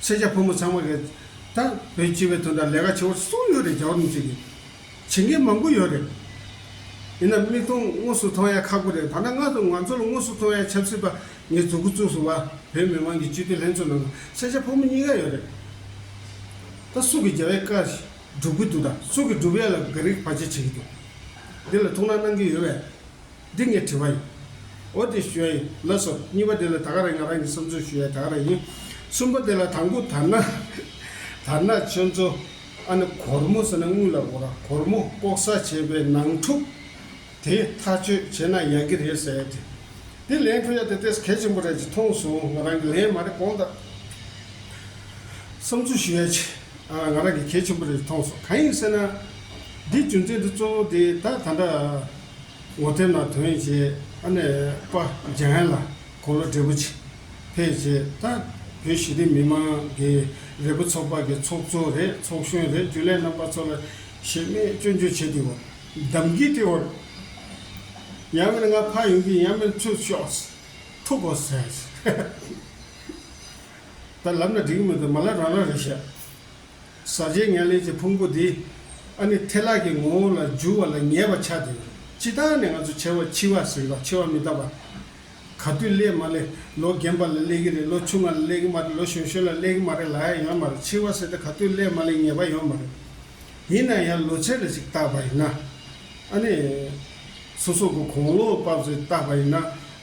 སེར་སྐྱ་ཕོ་མོ་ཚང་མ་རེད་ད། བོད་སྤྱི་བའི་དོན་དང་ལས་ཀ་བྱེད་བར་གསུམ་ཡོད་རེད་རྒྱ་བོར་མི་བྱེད་གི། བྱེད་མཁན་མང་པོ་ཡོད་རེད། ཡིན་ནམ་མིག་མཐོང་དངོས་སུ་མཐོང་ཡ་ཁག་པོ་རེད་ད་ནངས་ང་ཚོ་ང་ཚོ་ལ་དངོས་སུ་མཐོང་ཡ་ཆབ་སྲིད་པ་ངའི་གཟུགས་སྐུ་བཙུགས་སུ་བ་བོད་མི་མང་གི་སྤྱི་འཐུས་ལྷན་ཚོགས་ནང་སེར་སྐྱ་ཕོ་མོ་གཉིས་ཀ་ཡོད་རེད་ད་སུ་གི་རྒྱ་བའི་བཀའ་སྒྲུབ་གི་འདུག་ད་སུ་གི་སྒྲུབ་ཡ་ལ་དགའ་རིགས་བ་ཅི་བྱེད་ཀྱི་འདུག་འདི་ལ་ཐུགས་སྣང་གནང་གི་ཡོད་བས། འདི་ངས་བྲིས་པ་ཡིན། འོ་དེ་ཞུ་ཡ་ཡིན་ལགས་སོ། གཉིས་པ་དེ་ལ་ད་ག་རེད་ང་རང་གི་བསམ་ཚུལ་ཞུ་ཡ་ད་ག་རེད་ཡིན། གསུམ་པ་དེ་ལ་དང་པོ་དར་ནག། དར་ནག་ཆོས་མཚོ། ཨ་ནི་གོར་མོ་ཟེར་ན་དངུལ་ལ་གོ་ར་གོར་མོ་ལྐོག་ཟ་བྱས་པའི་ནང་འཁྲུག་དེ་ཐག་གཅོད་བྱས་ན་ཡག་གི་རེད་ཟེར་དེ། དེ་ལན་འཁྲུག་ཡ་དེ་ལྟས་གལ་ཆེན་པོ་རེད་ཅེས་མཐོང་སོང་ང་རང་གི་ལན་མ་རེད་གོང་དར་བསམ་ཚུལ་ཞུ་ཡ་ཆེ་ཨ་ང་རང་གི་གལ་ཆེན་པོ་རེད་ཅེས་མཐོང་སོང་གང་ཡིན་ཟེར་ན། འདི་རྒྱུ་མཚན་དེ་གཙོ་བོ་དེ་ད་ད་འདྲ། ངོ་ཐེ་ན་དོན་བྱེད་ཨ་ནེ་པ་ལྗན་ལ་གོ་ལོ་བགྲེས་པོ་ཆེ་ཕེ་བྱེད་ད་བོད་ཞི་བདེ་མི་མང་གི་རེ་བོ་ཚོགས་པ་གི་ཚོགས་གཙོ་རེད་ཚོགས་གཞོན་རེད་རྒྱུ་ལས་རྣམ་པ་ཚོ་ལ་ཞེ་མེད་སྐྱོན་བརྗོད་བྱེད་དུས་བ་དམ་གྱི་ཏི་བར་ཡང་མེད་ང་ཕ་ཡོང་གི་ཡང་མེད་ཚུལ་ཤོགས་ཐུག་གོ་ཟེར་ད་ལབ་ན་འགྲིག་གི་མི་འདུག་མ་ལ་རང་རང་རེད་བཤད། ཟ་བྱེད་མྱ་ལས་ཀྱི་ཕུང་པོ་འདི། ཨ་ནི་ཐལ་ལག་གི་ངོ་བོ་ལ་འགྱུར་བ་ལ་ཉེ་བར་ཆགས་ཏེ། ཅི་ལྟར་ནས་ང་ཚོ་བྱེ་བ་འཆི་བ་ཟིན་པ་འཆི་བ་མི་རྟག་པ། ག་དུས་སླེབས་མ་སླེབས་ལོ་རྒན་པ་ལ་སླེབས་ཀྱི་རེད་ལོ་ཆུང་ང་ལ་སླེབས་ཀྱི་མ་རེད་ལོ་ཞོན་ཞོན་ལ་སླེབས་ཀྱི་མ་རེད་ལ་ཡང་ཡོད་མ་རེད་འཆི་བ་ཟེར་ཏེ་ག་དུས་སླེབས་མ་སླེབས་ངེས་པ་ཡོད་མ་རེད། ཡིན་ན་ཡང་ལོ་ཚད་ལ་ཅིག་བཏགས་པ་ཡིན་ན། ཨ་ནི། སོ་སོ་གོ་གོང་འོག་བབས་སུ་བཏགས་པ་ཡིན་ན།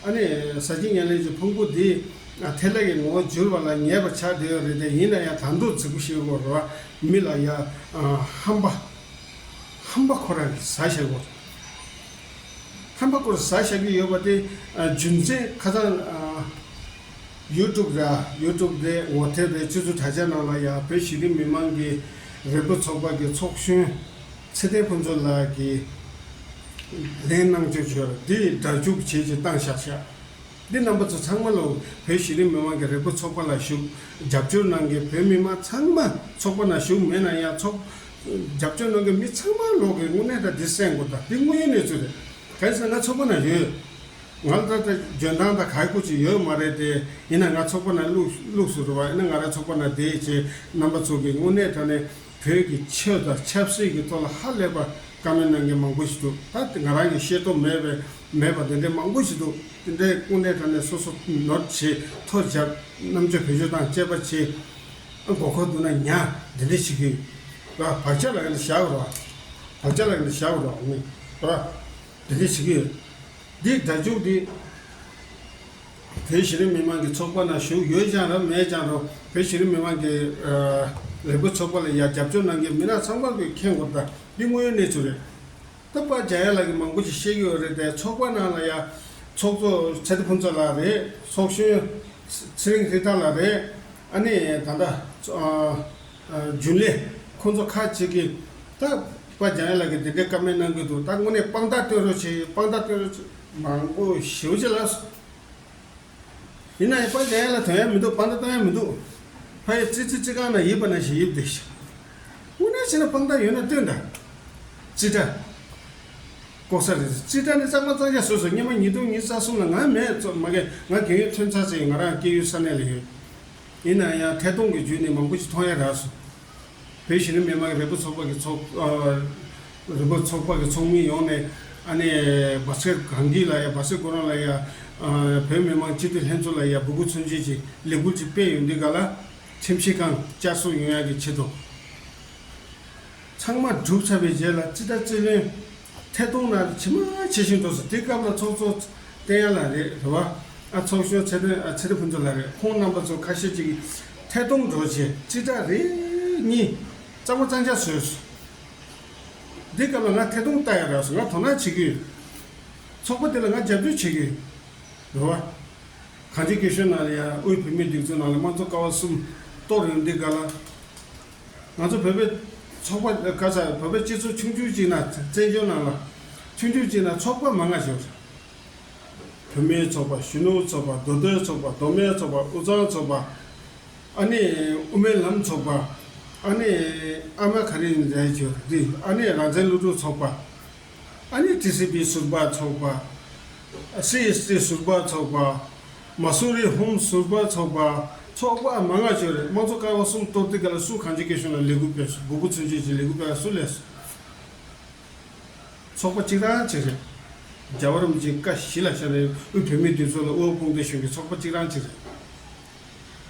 ཨ་ནི། ཟ་བྱེད་ཉེར་ལེན་གྱི་ཕུང་པོ་འདི། ཐལ་ལེ་ཡི་ངོ་བོ་བསྒྱུར་བ་ལ་ཉེས་པ་ཆགས་བདེ་བས་རེད་དེ་ཡིན་ན་ཡང་དར་མདོག་རྫིག་པོ་ཞིག་བོར་བ་མི་ལ་ཡ། ཧམ་པ། ཧམ་པ་ཁོ་རང་གིས་ཟ་བཞག་གོ། ཧམ་པ་ཁོར་ཟ་བཞག་གི་ཡོད་པ་དེ། རྒྱུ་མཚན་ཁ་ཚང། ཡུ་ཀྲུབ་ར། ཡུ་ཀྲུབ་དེ་ངོ་ཐེབས་པའི་སྤྱོད་ཚུལ་དྲ་རྒྱ་ནང་ལ་ཡང་བོད་གཞི་རིམ་མི་མང་གི། རེ་འབོད་ཚོགས་པ་གི་ཚོགས་གཞོན། ཚེ་བརྟན་ཕུན་ཚོགས་ལགས་ཀྱིས། ལན། གནང་སྤྱོད་ཆོས་འདི་སྒྲ་འཇུག་བྱེད་ཀྱི་སྟངས་བཞག་བཞག། འདི་རྣམ་པ་ཚོ་ཚང་མ་ལོ་བོད་གཞི་རིམ་མི་དམངས་ཀྱི་རེ་སྒུག་ཚོགས་པ་ལ་ཞུགས་རྒྱབ་སྐྱོར་གནང་མཁན་བོད་མི་དམངས་ཚང་མ་ཚོགས་པ་ན་ཞུགས་མེད་ན་ཡང་ཚོགས་རྒྱབ་སྐྱོར་གནང་མཁན་མི་ཚང་མ་ལོག་གི་དངོས་གནས་ད་འདི་གསལ་འགོ་ད་འདི་དངོས་ཡོད་གནས་ཚུལ་རེད་གལ་སྲིད་ང་ཚོགས་པ་ན་ཡོད་ང་ལ་ད་འཇོན་ཐང་དང་ག་གོ་ཅི་ཡོད་མ་རེད་དེ་ཡིན་ན་ང་ཚོགས་པ་ན་བླུགས་བླུགས་སུ་རུ་བ་ཡིན་ན་ང་རང་ཚོགས་པ་ན་བསྡད་ཅེས་རྣམ་པ་ཚོགས་ཀྱི་དངོས་གནས་ད་ནས་བོད་ཀྱི་ཆོས་དང་ཆབ་སྲིད་ཀྱི་ཐོག་ལ་ཧ་ལས་པར་དཀའ་མོལ་གནང་མཁན་མང་པོ་ཞིག་འདུག་ད་ང་རང་གིས་ཤེས་རྟོགས་མེད་པའི་མེད་པ་དེ་འདྲའི་མང་པོ་ཞིག་འདུག་དེ་འདྲའི་སྐུ་ངལ་དྲག་ནས་སོ་སོ་ནོར་བྱེད་ཐོ་འཇགས་རྣམ་དཔྱོད་བོད་ཆོས་དང་བཅས་པ་ཆེ་ཨ་མགོ་འཁོར་འདུག་ན་ཉ་འདི་འདྲའི་ཞིག་གིས་ར་བག་ཆགས་ལ་ཡང་འདྲ་བཞག་རོགས་བག་ཆགས་ལ་ཡང་འདྲ་བཞག་རོགས་ར་འདི་འདྲའི་ཞིག་གིས་འདི་སྒྲ་འཇུག་འདི། བོད་གཞི་རིམ་མི་དམངས་ཀྱི་ཚོགས་པ་ནང་ཞུགས་ཡོད་ཀྱང་རམ་མེད་ཀྱང་རུང་བོད་གཞི་རིམ་མི་དམངས་ཀྱི་ལས་འགུལ་ཚོགས་པ་ལ་ཡང་རྒྱབ་སྐྱོར་གནང་མཁན་མི་སྣ་ཚང་མར་གྱི་ཁེངས་འགོག་དང་འདི་དངོས་ཡོད་གནས་ཚུལ་རེད། སྟབས་སྤ་རྒྱ་ཡ་ལགས་ཀྱི་མང་པོ་ཞིག་ཤེས་ཀྱི་ཡོད་རེད་དེ་ཚོགས་པ་ནང་ལ་ཡང་ཚོགས་གཙོ་ཚེ་རྡི་ཕུན་ཚོགས་ལགས་རེད་ཚོགས་གཞོན་ཚེ་རིང་ཧྲི་ཐར་ལགས་རེད་ཨ་ནི་ད་ལྟ་རྒྱུན་ལས། ཁོང་ཚོ་ཁ་ཅིག་གིས། ད། པ་འཇང་ཡེ་ལགས་ཀྱིས་འདི་འདྲའི་ཀ་མེད་གནང་གི་འདུག་ད་དངོས་གནས་དཔང་རྟགས་སྟོན་རོགས་བྱེད་དཔང་རྟགས་སྟོན་རོགས་བྱེད། མང་པོ་ཞུ་བྱེད་ལགས་སོ། ཡིན་ནའི་པ་འཇང་ཡེ་ལགས་དོན་ཡ་མི་འདུག་དཔང་རྟགས་སྟོན་ཡ་མི་འདུག། ཕ་ཡུལ་ཙི་ཙི་ཙི་ཁང་ན་ཡིབ་པ་ན་ཞིག་ཡིབ་བསྡད་ཤག། དངོས་གནས་བྱས་ན་དཔང་རྟགས་ཡོད་ན་སྟོན་དང། ཙི་ཏྲ། ལྐོག་ཟ་རེད། ཙི་ཏྲ་ནི་གཙང་མ་གཙང་ཆ་བཟོས་སོ་སྙེ་མ་ཉིས་སྟོང་ཉིས་རྩ་གསུམ་ལ་ང་མེད། མ་གས་ང་དགེ་འོས་ཐོན་ཚར་ཚེ་ང་རང་སྐྱེས་ཡུལ་ས་གནས་ལ་ཡོད། ཡིན་ན་ཡང་ཐད་གཏོང་གི་བརྒྱུད་ནས་མང་པོ་ཞིག་མཐོང་ཡ་རགས་སོང། བོད་གཞི་རིམ་མི་དམངས་རེ་འབོད་ཚོགས་པ་གི་ཚོགས་རེ་འབོད་ཚོགས་པ་གི་ཚོགས་མི་ཡོངས་ནས་ཨ་ནེ་སྦ་སེར་གངས་སྐྱིད་ལ་ཡ་སྦ་སེར་ཀོ་རོན་ལ་ཡ་བོད་མི་དམངས་སྤྱི་འཐུས་ལྷན་ཚོགས་ལ་ཡ་འབོད་སྐུལ་མཚོན་བྱེད་ཀྱི་ལས་འགུལ་ཅིག་སྤེལ་ཡོད་འདུག་ག་ལ་ཁྲིམས་ཞིབ་ཁང་བསྐྱར་གསོ་ཡོང་ཡ་གི་ཆེད་དུ། ཚང་མ་བསྒྲུབ་ཚར་བའི་རྗེས་ལ་སྤྱི་ཟླ་བཅུ་ལོན། ཐད་གཏོང་ན་ཇི་མ་ཇི་བཞིན་འགྲོ་སོང་དེ་སྐབས་ལ་ཚོགས་གཙོ་བསྟན་ཡ་ལ་རེད་རེད་བ། ཨ་ཚོགས་གཞོན་ཚེ་དོན་ཨ་ཚེ་རི་བུ་འདུ་ལ་རེད་ཁོང་རྣམ་པ་ཚོ་ཁ་ཤས་ཅིག་གིས་ཐད་གཏོང་འགྲོ་བྱས་སྤྱི་ཟླ་རེ་གཉིས་གཙང་མ་གཙང་ཆགས་བཟོས། དེ་སྐབས་ལ་ང་ཐད་གཏོང་ལྟ་ཡ་ར་སོང་ང་དོ་སྣང་བྱེད་ཀྱི་ཡོད། ཚོགས་པ་དེ་ལ་ང་རྒྱབ་སྐྱོར་བྱེད་ཀྱི་ཡོད་རེད་བ། གངས་ཅན་སྐད་གཞོན་ནང་ལ་ཡ་དབུས་བུད་མེད་སྒྲིག་འཛུགས་ནང་ལ་དམངས་གཙོ་ཀ་བ་གསུམ་གཏོགས་རེད་འདི་ག་ལ། ང་ཚོ་བོད་པའི་ཚོགས་པ་ལ་ག་ཚ་བོད་པའི་སྤྱི་ཚོགས་ཆུང་ཆུང་ཅིག་ན་བཙན་བྱོལ་ནང་ལ་ཆུང་ཆུང་ཅིག་ན་ཚོགས་པ་མང་ང་ཞིག་བོད་མིའི་ཚོགས་པ་གཞོན་ནུ་ཚོགས་པ་མདོ་སྟོད་ཚོགས་པ་མདོ་སྨད་ཚོགས་པ་དབུས་གཙང་ཚོགས་པ་ཨ་ནེ་དབུ་མའི་ལམ་ཚོགས་པ་ཨ་ནེ་ཨ་མ་ག་རིང་རེད་ཆོས་རིག་ཨ་ནེ་རང་བཙན་སློབ་ཕྲུག་ཚོགས་པ་ཨ་ནེ་ཏི་སི་པི་ཟུར་པ་ཚོགས་པ་སི་ཨེ་སི་ཏི་ཟུར་པ་ཚོགས་པ། མ་སུ་རི་ཧོམ་ཟུར་པ་ཚོགས་པ། ཚོགས་པ་མ་མངགས་བཅོས་རེས་དམངས་གཙོ་ཀ་བ་གསུམ་གཏོར་བསྡུ་སྐལ་ལ་སུ་གང་ཅི་དགེ་བྱུང་ལ་ལས་འགུལ་སྤེལ་སོ་དགུ་པོ་ཚུན་ཆད་ཀྱི་ལས་འགུལ་སྤེལ་བ་སུ་ལས་སོ། ཚོགས་པ་གཅིག་རང་གཅིག་རེད། རྒྱ་བར་རིམ་བྱོན་ཀ་བཞི་ལ་ཤར་རི་དབུས་བོད་མིའི་འདུས་ཚོགས་ལ་དབུ་འོག་དཔུང་སྡེ་གཞུང་གི་ཚོགས་པ་གཅིག་རང་གཅིག་རེད།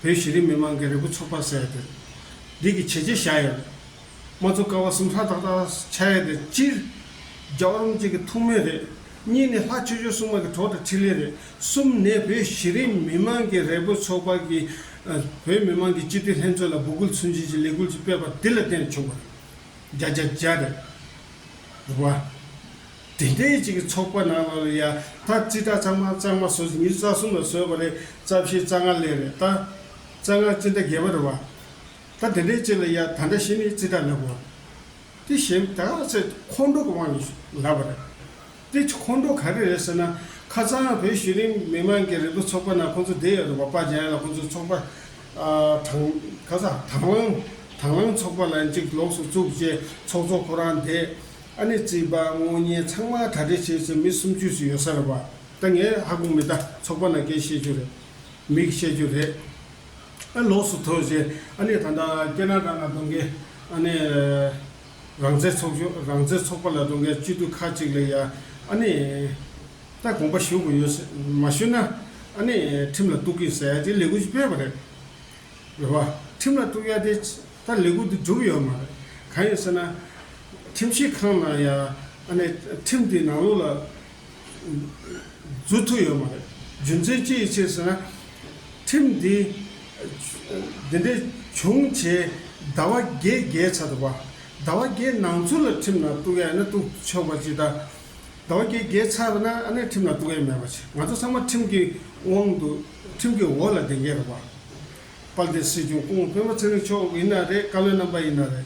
བོད་གཞི་རིམ་མི་མང་གི་རེ་སྒུག་ཚོགས་པ་ཟེར་བ་དེ་རེད། འདི་གི་བྱས་རྗེས་བཞག་ཡོད་རེད། མ་ཚུགས་དཀའ་བ་གསུམ་ཧྲ་ཏག་ཏག་བྱ་ཡ་དེ་སྤྱིར། རྒྱའོ་རུང་བཅས་ཀྱི་ཐུགས་སྨོན་རེད། གཉིས་ནི་ལྷ་ཆོས་ཆོས་སྲུང་མ་གི་གྲོགས་དང་འཕྲིན་ལས་རེད། གསུམ་ནས་བོད་གཞི་རིམ་མི་མང་གི་རེ་འབོད་ཚོགས་པ་གི་བོད་མི་མང་གི་སྤྱི་འཐུས་ལྷན་ཚོགས་ལ་འབོད་སྐུལ་ཚུལ་འབྱིན་གྱི་ལས་འགུལ་ཅིག་སྤེལ་བ་འདི་ལ་བརྟེན་ནས་བྱུང་བ་རེད། རྒྱ་རྒྱ་རྒྱ་རེད། རེད་བ། དེ་འདྲའི་གཅིག་གི་ཚོགས་པ་ནང་ལ་ལ་ཡ་ད་རྩིས་ཁྲ་གཙང་མ་གཙང་མ་ཟོས་ཉིན་རྩ་གསུམ་ལ་ཟོས་བ་རེད་རྩ་བཞི་རྩ་ལྔ་ལས་རེད་ད། རྩ་ལྔ་ཅི་འདྲ་རྒྱས་པ་རེད་བ། ད་དེ་འདྲའི་ཅན་ལ་ཡ་ད་འདྲ་བྱེད་ནི་ཅི་ད་ལབ་བོ། དེ་གཞན་ད་ག་ཚད་ཁོང་ཁྲོ་གི་དབང་གིས་ལབ་བ་རེད། དེ་ཁོང་ཁྲོ་ག་རེ་རེད་ཟེར་ན་ཁ་རྩང་བོད་གཞི་རིམ་མི་དམངས་ཀྱི་རིག་པ་ཚོགས་པ་ན་ཁོང་ཚོ་བསྡད་ཡོད་རེད་བ་པ་རྒྱ་ཡན་ལ་ཁོང་ཚོ་ཚོགས་པ་དང་ག་ས་དང་བླངས་དང་བླངས་ཚོགས་པ་ལ་འཇིགས་ལོགས་སུ་བཙུགས་རྗེས་ཚོགས་གཙོ་ཁོ་རང་བསྡད་ཨ་ནི་རྩིས་པ་དངོས་གཉེར་ཚང་མ་དྲ་སྦྲེལ་བྱས་ཚེ་མི་སུམ་ཅུ་ཟིག་ཡོད་ས་རེད་བ། ད་ངས་ཧ་གོ་མི་ད་ཚོགས་པ་ན་སྐད་བཤད་རྒྱུ་རེད་མིག་བཤད་རྒྱུ་རེད་ཨ་ལོགས་སུ་ཐོན་ཞེས་ཨ་ནི་ད་ལྟ་ཀེ་ན་ཏྲ་ན་གཏོང་མཁན་ཨ་ནི་རང་བཙན་ཚོགས་ཆུང་རང་བཙན་ཚོགས་པ་ལ་གཏོང་མཁན་སྤྱི་འཐུས་ཁག་ཅིག་ལས་ཡང་ཨ་ནི་ད་དགོངས་པ་ཞུ་དགོས་ཡོད་མ་ཞུས་ན་ཨ་ནི་ཁྲིམས་ལ་གཏུགས་ཀི་ཟེར་དེ་ལས་འགུལ་ཅིག་སྤེལ་བ་རེད་རེད་བ། ཁྲིམས་ལ་གཏུགས་ཡ་དེ་ད་ལས་འགུལ་དེ་འགྲུབ་ཡོད་མ་རེད་གང་ཡིན་ཟེར་ན་ཁྲིམས་ཞིབ་ཁང་ན་ཡང་ཨ་ནི་ཁྲིམས་དེ་ནང་ལུགས་ལ་རྫུ་འཕྲུལ་ཡོད་མ་རེད། རྒྱུ་མཚན་ཅི་ཡི་ཕྱིར་ཟེར་ན། ཁྲིམས་འདི་འདི་འདྲའི་བྱུང་བྱའི་ཟླ་བ་བརྒྱད་བརྒྱའི་ཆ་དུ་བ། ཟླ་བ་བརྒྱད་ནང་ཚུན་ལ་ཁྲིམས་ལ་གཏུགས་ཡ་ཡིན་ན་གཏུགས་ཆོག་པ་ཅི་ད། ཟླ་བ་བརྒྱད་བརྒྱའི་ཆ་བ་ན་ཨ་ནེ་ཁྲིམས་ལ་གཏུགས་ཡ་མེད་པ་ཆེ། ང་ཚོ་ཚང་མ་ཁྲིམས་ཀྱི་དབང་དུ་ཁྲིམས་ཀྱི་འོག་ལ་བསྡད་མཁན་རེད་བ། དཔལ་ལྡན་སྲིད་སྐྱོང་སྐུ་ངོ་སྤེན་པ་ཚེ་རིང་མཆོག་ཡིན་ན་རེད་བཀའ་བློན་རྣམ་པ་ཡིན་ན་རེད།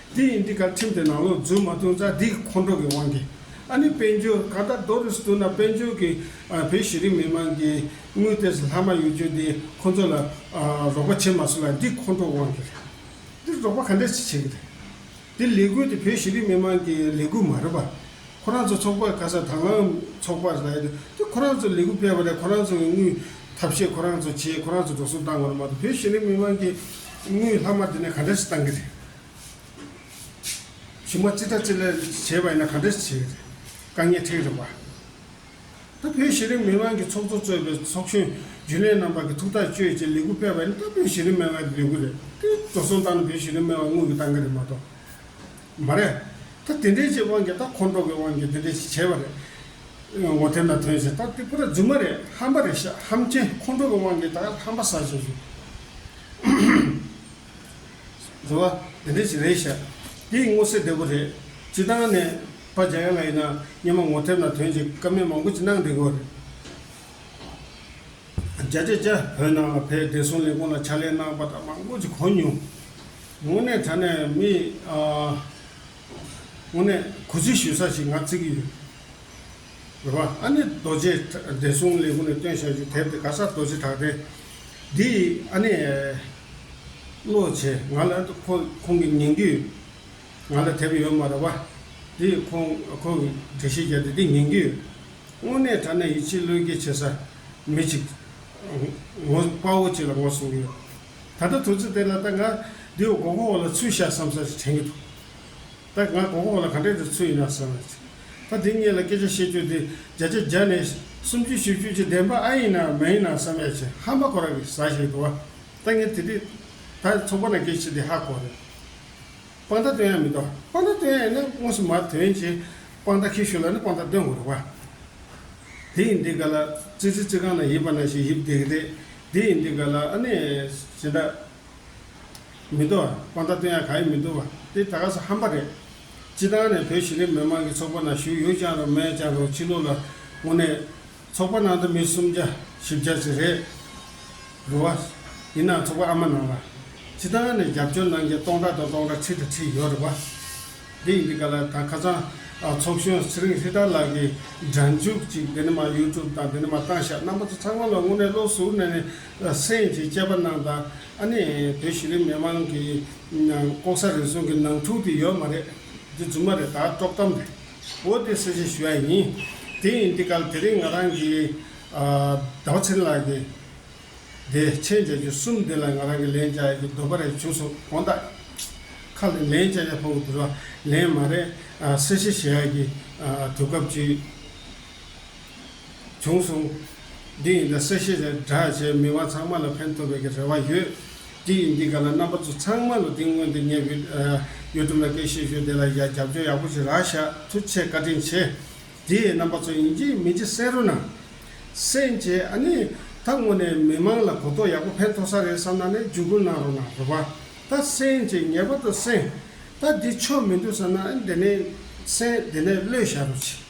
དེ་ཡིན་དུས་བཀའ་ཁྲིམས་དེ་ནང་ལོག་འཛུལ་མ་ཐུབ་ཙང་འདི་ཁོང་ཁྲོ་གི་དབང་གིས་ཨ་ནི་དཔལ་འབྱོར་གང་ལྟར་རྡོ་རུས་བསྡུ་ན་དཔལ་འབྱོར་གི་བོད་ཤེས་རིག་མི་དམངས་ཀྱི་དངུལ་དེ་ལྷག་མ་ཡོད་རྒྱུ་དེ་ཁོང་ཚོ་ལ་རོགས་པ་བྱེད་མ་སོང་ལ་འདི་ཁོང་ཁྲོ་དབང་གིས་རེད། འདི་རོགས་པ་ག་འདྲས་ཅིག་བྱེད་ཀྱི་རེད། འདི་ལས་འགུལ་དེ་བོད་ཤེས་རིག་མི་དམངས་ཀྱི་ལས་འགུལ་མ་རེད་པ། ཁོ་རང་ཚོ་ཚོགས་པ་ག་ས་དང་ལའང་ཚོགས་པ་རེད་དེ་དེ་ཁོ་རང་ཚོ་ལས་འགུལ་སྤེལ་བ་རེད་ཁོ་རང་ཚོ་གི་དངུལ་ཐབས་ཤེས་ཁོ་རང་ཚོ་བྱས་ཁོ་རང་ཚོ་འགྲོ་སོང་བཏང་བ་རེད་མ་གཏོགས་བོད་ཤེས་རིག་མི་དམངས་ཀྱི་དངུལ་ལྷག་མ་དེ་ནས་ག་འདྲས་ཅིག་བཏང་གི་རེད། བྱུང་བ་ཅི་དྲག་ཅི་ལེགས་བྱས་པ་ཡིན་ན་ག་འདྲ་བྱས་ཏེ་དཀའ་ངལ་ཐེག་རིགས་པ། ད་བོད་གཞི་རིམ་མི་དམངས་ཀྱི་ཚོགས་གཙོ་གཙོས་པའི་ཚོགས་གཞོན་རྒྱུན་ལས་རྣམ་པ་གི་ཐུགས་ཐག་གཅོད་ཅེས་ལས་འགུལ་སྤེལ་བ་ཡིན་ན་ད་བོད་གཞི་རིམ་མི་དམངས་ཀྱི་ལས་འགུལ་རེད་དེ་འགྲོ་སོང་བཏང་ན་བོད་གཞི་རིམ་མི་དམངས་དངུལ་གྱི་བཏང་གི་རེད་མ་གཏོགས་མ་རེད། ད་དེ་འདྲའི་ཅིག་དབང་གིས་ད་ཁོང་ཁྲོ་གི་དབང་གིས་དེ་འདྲའི་ཅིག་བྱས་པ་རེད། ངོ་དེབ་ན་ཐོན་ཞིག་ད་དེ་པུ་ར་རྫུན་མ་རེད་ཧམ་པ་རེད་ཤག་ཧམ་ཆེན་ཁོང་ཁྲོ་གི་དབང་གིས་ད་ཧམ་པ་བསགས་བཞིན་ཞུ། བཟོ་བ། དེ་འདྲས་ཅིག་རེད་ཤག། དེ་ཡི་སྔོ་སེར་བདེ་པོ་རེད། སྤྱི་བཏང་ནས། པ་རྒྱ་ཡ་ལ་ཡིན་ན་སྙན་མོ་ངོ་ཐེབས་ན་དོན་ཅིག་ཀ་མེད་མང་པོ་ཅིག་གནང་འདི་དགོས་རེད། རྒྱ་རྒྱ་རྒྱ། བོད་ནང་ལ་ཕའི་བདེ་སྲུང་ལས་ཁུངས་ལ་ཕྱག་ལས་གནང་པ་དག་མང་པོ་ཅིག་གོ་མྱོང། དངོས་གནས་དྲ་གནས་མི། དངོས་གནས་གུས་བརྩི་ཞུས་ས་ཞིག་ང་བརྩི་གི་ཡོད། འགྲོ་བ་ཨ་ནེ་རྡོ་རྗེ་བདེ་སྲུང་ལས་ཁུངས་ནས་བཏོན་བྱ་རྒྱུ་དེབ་དེ་ག་ས་རྡོ་རྗེ་གྲགས་ལྡན་འདི་ཡིས་ཨ་ནེ། བློ་བྱས་ང་ལ་ཁོ་ཁོང་གི་ཉིང་རྡུལ་ང་ལ་དེབ་ཡོད་མ་རེད་བ། འདི་ཡིས་ཁོང་ཁོང་གི་དྲི་ཞིག་བརྒྱབ་སྟེ་འདི་ཉིང་རྡུལ་དངོས་གནས་གྲགས་ན་ཡིད་ཆེས་བློས་འགེལ་བྱེད་ས་མི་ཅིག་ངོ་དཔའ་བོ་ཅིག་ལ་ངོ་གསུང་གི་ཡོད། ད་ལྟ་དུས་ཚོད་དེ་ལ་ད་ང་འདི་འོག་གོ་གོ་བ་ལ་ཚུལ་བཞག་བསམ་ས་ཞིག་དྲན་གྱི་འདུག་ད་ང་གོ་གོ་ལ་ག་འདྲས་ཏེ་ཚུལ་ཡིན་ན་ཟེར་བ་ཅི། ད་དེ་གཉིས་ལ་སྐད་ཆ་བཤད་རྒྱུ་དེ་བརྒྱ་ཆ་བརྒྱ་ནས་སུམ་བཅུ་བཞི་བཅུ་གཅིག་བདེན་པ་ཨ་ཡིན་ནམ་མ་ཡིན་ནམ་བསམ་ཡ་ཆེ་ཧ་མ་གོ་ར་གི་ཟ་བཞིན་འདུག་བ་ད་ངས་དེ་དུས་ད་ཚོགས་པ་ན་སྐད་ཆ་དེ་ཧ་གོ་རེད། དཔང་རྟགས་སྟོན་ཡ་མི་འདུག་དཔང་རྟགས་སྟོན་ཡ་ཡིན་ན་དངོས་སུ་མར་དོན་གྱིས་དཔང་རྟགས་ཁྱེར་ཞུ་ལ་ནི་དཔང་རྟགས་སྟོན་དགོས་རེད་བ། དེ་ཡིན་དེ་ག་ལ་ཙི་ཙི་ཙི་གང་ན་ཡིབ་པ་ན་ཞིག་ཡིབ་བསྡད་ཀི་དེ་དེ་ཡིན་དེ་ག་ལ་ཨ་ནས་ཞེ་འདྲ། མི་འདུག་ཨ། ཁོང་ད་དུང་ཡང་གང་ཡིན་མི་འདུག་པ། དེ་ད་ག་ས་ཧམ་པ་རེད། སྤྱི་བཏང་ནས་བོད་གཞི་རིམ་མི་མང་གི་ཚོགས་པ་ནང་ཞུགས་ཡུག་ཅང་རུང་མན་ཅང་རུང་ཕྱི་ལུགས་ལ་དངོས་གནས། ཚོགས་པ་ནང་དུ་མི་སུམ་བརྒྱ་བཞི་བརྒྱ་ཅིག་རེད། རུ་བ། ཡིན་ནའང་ཚོགས་པ་ཨ་མ་ནང་ལ། སྤྱི་བཏང་ནས་རྒྱབ་སྐྱོར་གནང་མཁན་སྟོང་ཕྲག་དང་སྟོང་ཕྲག་ཁྲི་དང་ཁྲི་ཡོད་རེད་བ། དེ་ཡིན་དུས་ག་ལ་ད་ཁ་ཚང་ཨ་ཚོགས་གཞོན་ཚེ་རིང་ཧྲི་ཏཱ་ལགས་ཀྱི་སྒྲ་འཇུག་ཅིག་འདི་ནི་མ་ཡུ་ཀྲུབ་དང་འདི་ནི་མ་བཏང་ཤག་རྣམ་པ་ཚོ་ཚང་མ་ལ་དངོས་གནས་བློ་ཟུར་ནས་ནས་སེང་ཅིག་དཔྱད་པ་གནང་དང་ཨ་ནི་བོད་གཞི་རིམ་མི་མང་གི་ལྐོག་ཟ་རེ་ཟུང་གི་ནང་འཁྲུག་དེ་ཡོད་མ་རེད། འདི་རྫུན་མ་རེད་ད་དཀྲོག་གཏམ་རེད། འོ་དེ་གསལ་བཤད་ཞུ་ཡ་ཡིན། དེ་ཡིན་དེ་གལ་དེ་རིང་ང་རང་གི་ཟླ་བ་ཚེ་རིང་ལགས་ཀྱི་དེ་མཆན་བརྒྱད་ཅུ་གསུམ་དེ་ལ་ང་རང་གི་ལན་བྱ་ཡ་གི་འདོད་པ་རེ་བྱུང་སོང་དགོངས་དག་ཁ་ལ་ལན་བྱ་ཡ་ཕོ་གི་འདུལ་བ་ལན་མ་རེད་གསལ་བཤད་བྱེད་ཡ་གི་དུས་སྐབས་བཅུའི། བྱུང་སོང། འདི་ཡིན་ད་སེ་ཤེས་བྱ་བསྒྲགས་བྱས་མི་དབང་ཚང་མ་ལ་ཕན་ཐོབ་པའི་གི་རེ་བ་ཡོད། འདི་ཡིན་འདི་ག་ལ་རྣམ་པ་ཚོ་ཚང་མ་ལ་འདི་སྔོན་དེ་ངས་བིད་ཡོ་ཏུབ་ལ་སྐད་བཤད་ཞོར་དེ་ལ་ཡ་རྒྱབ་སྐྱོར་ཡག་པོ་བྱེད་རག་ཤག་ཐུགས་ཆེ་བཀའ་དྲིན་ཆེ། འདི་ཡིན་རྣམ་པ་ཚོ་ཡིན་གྱི་མིན་གྱི་བསེ་རུ་ནང། སེན་བྱས་ཨ་ནི། ད་དངོས་ནས་མི་མང་ལ་གོ་རྟོགས་ཡག་པོ་ཕན་ཐོག་ས་རེད་བསམ་ན་ནས་རྒྱུད་སྐུར་གནང་རོགས་གནང་རོགས་པ། ད་སེན་བྱས་ངེས་པ་ད་སེན། ད་འདི་ཆོ་མི་འདུག་བསམ་ན་ཨ་ནི་དེ་ནས་སེན་དེ་ནས་བློས་བཞག་རོགས་གྱིས།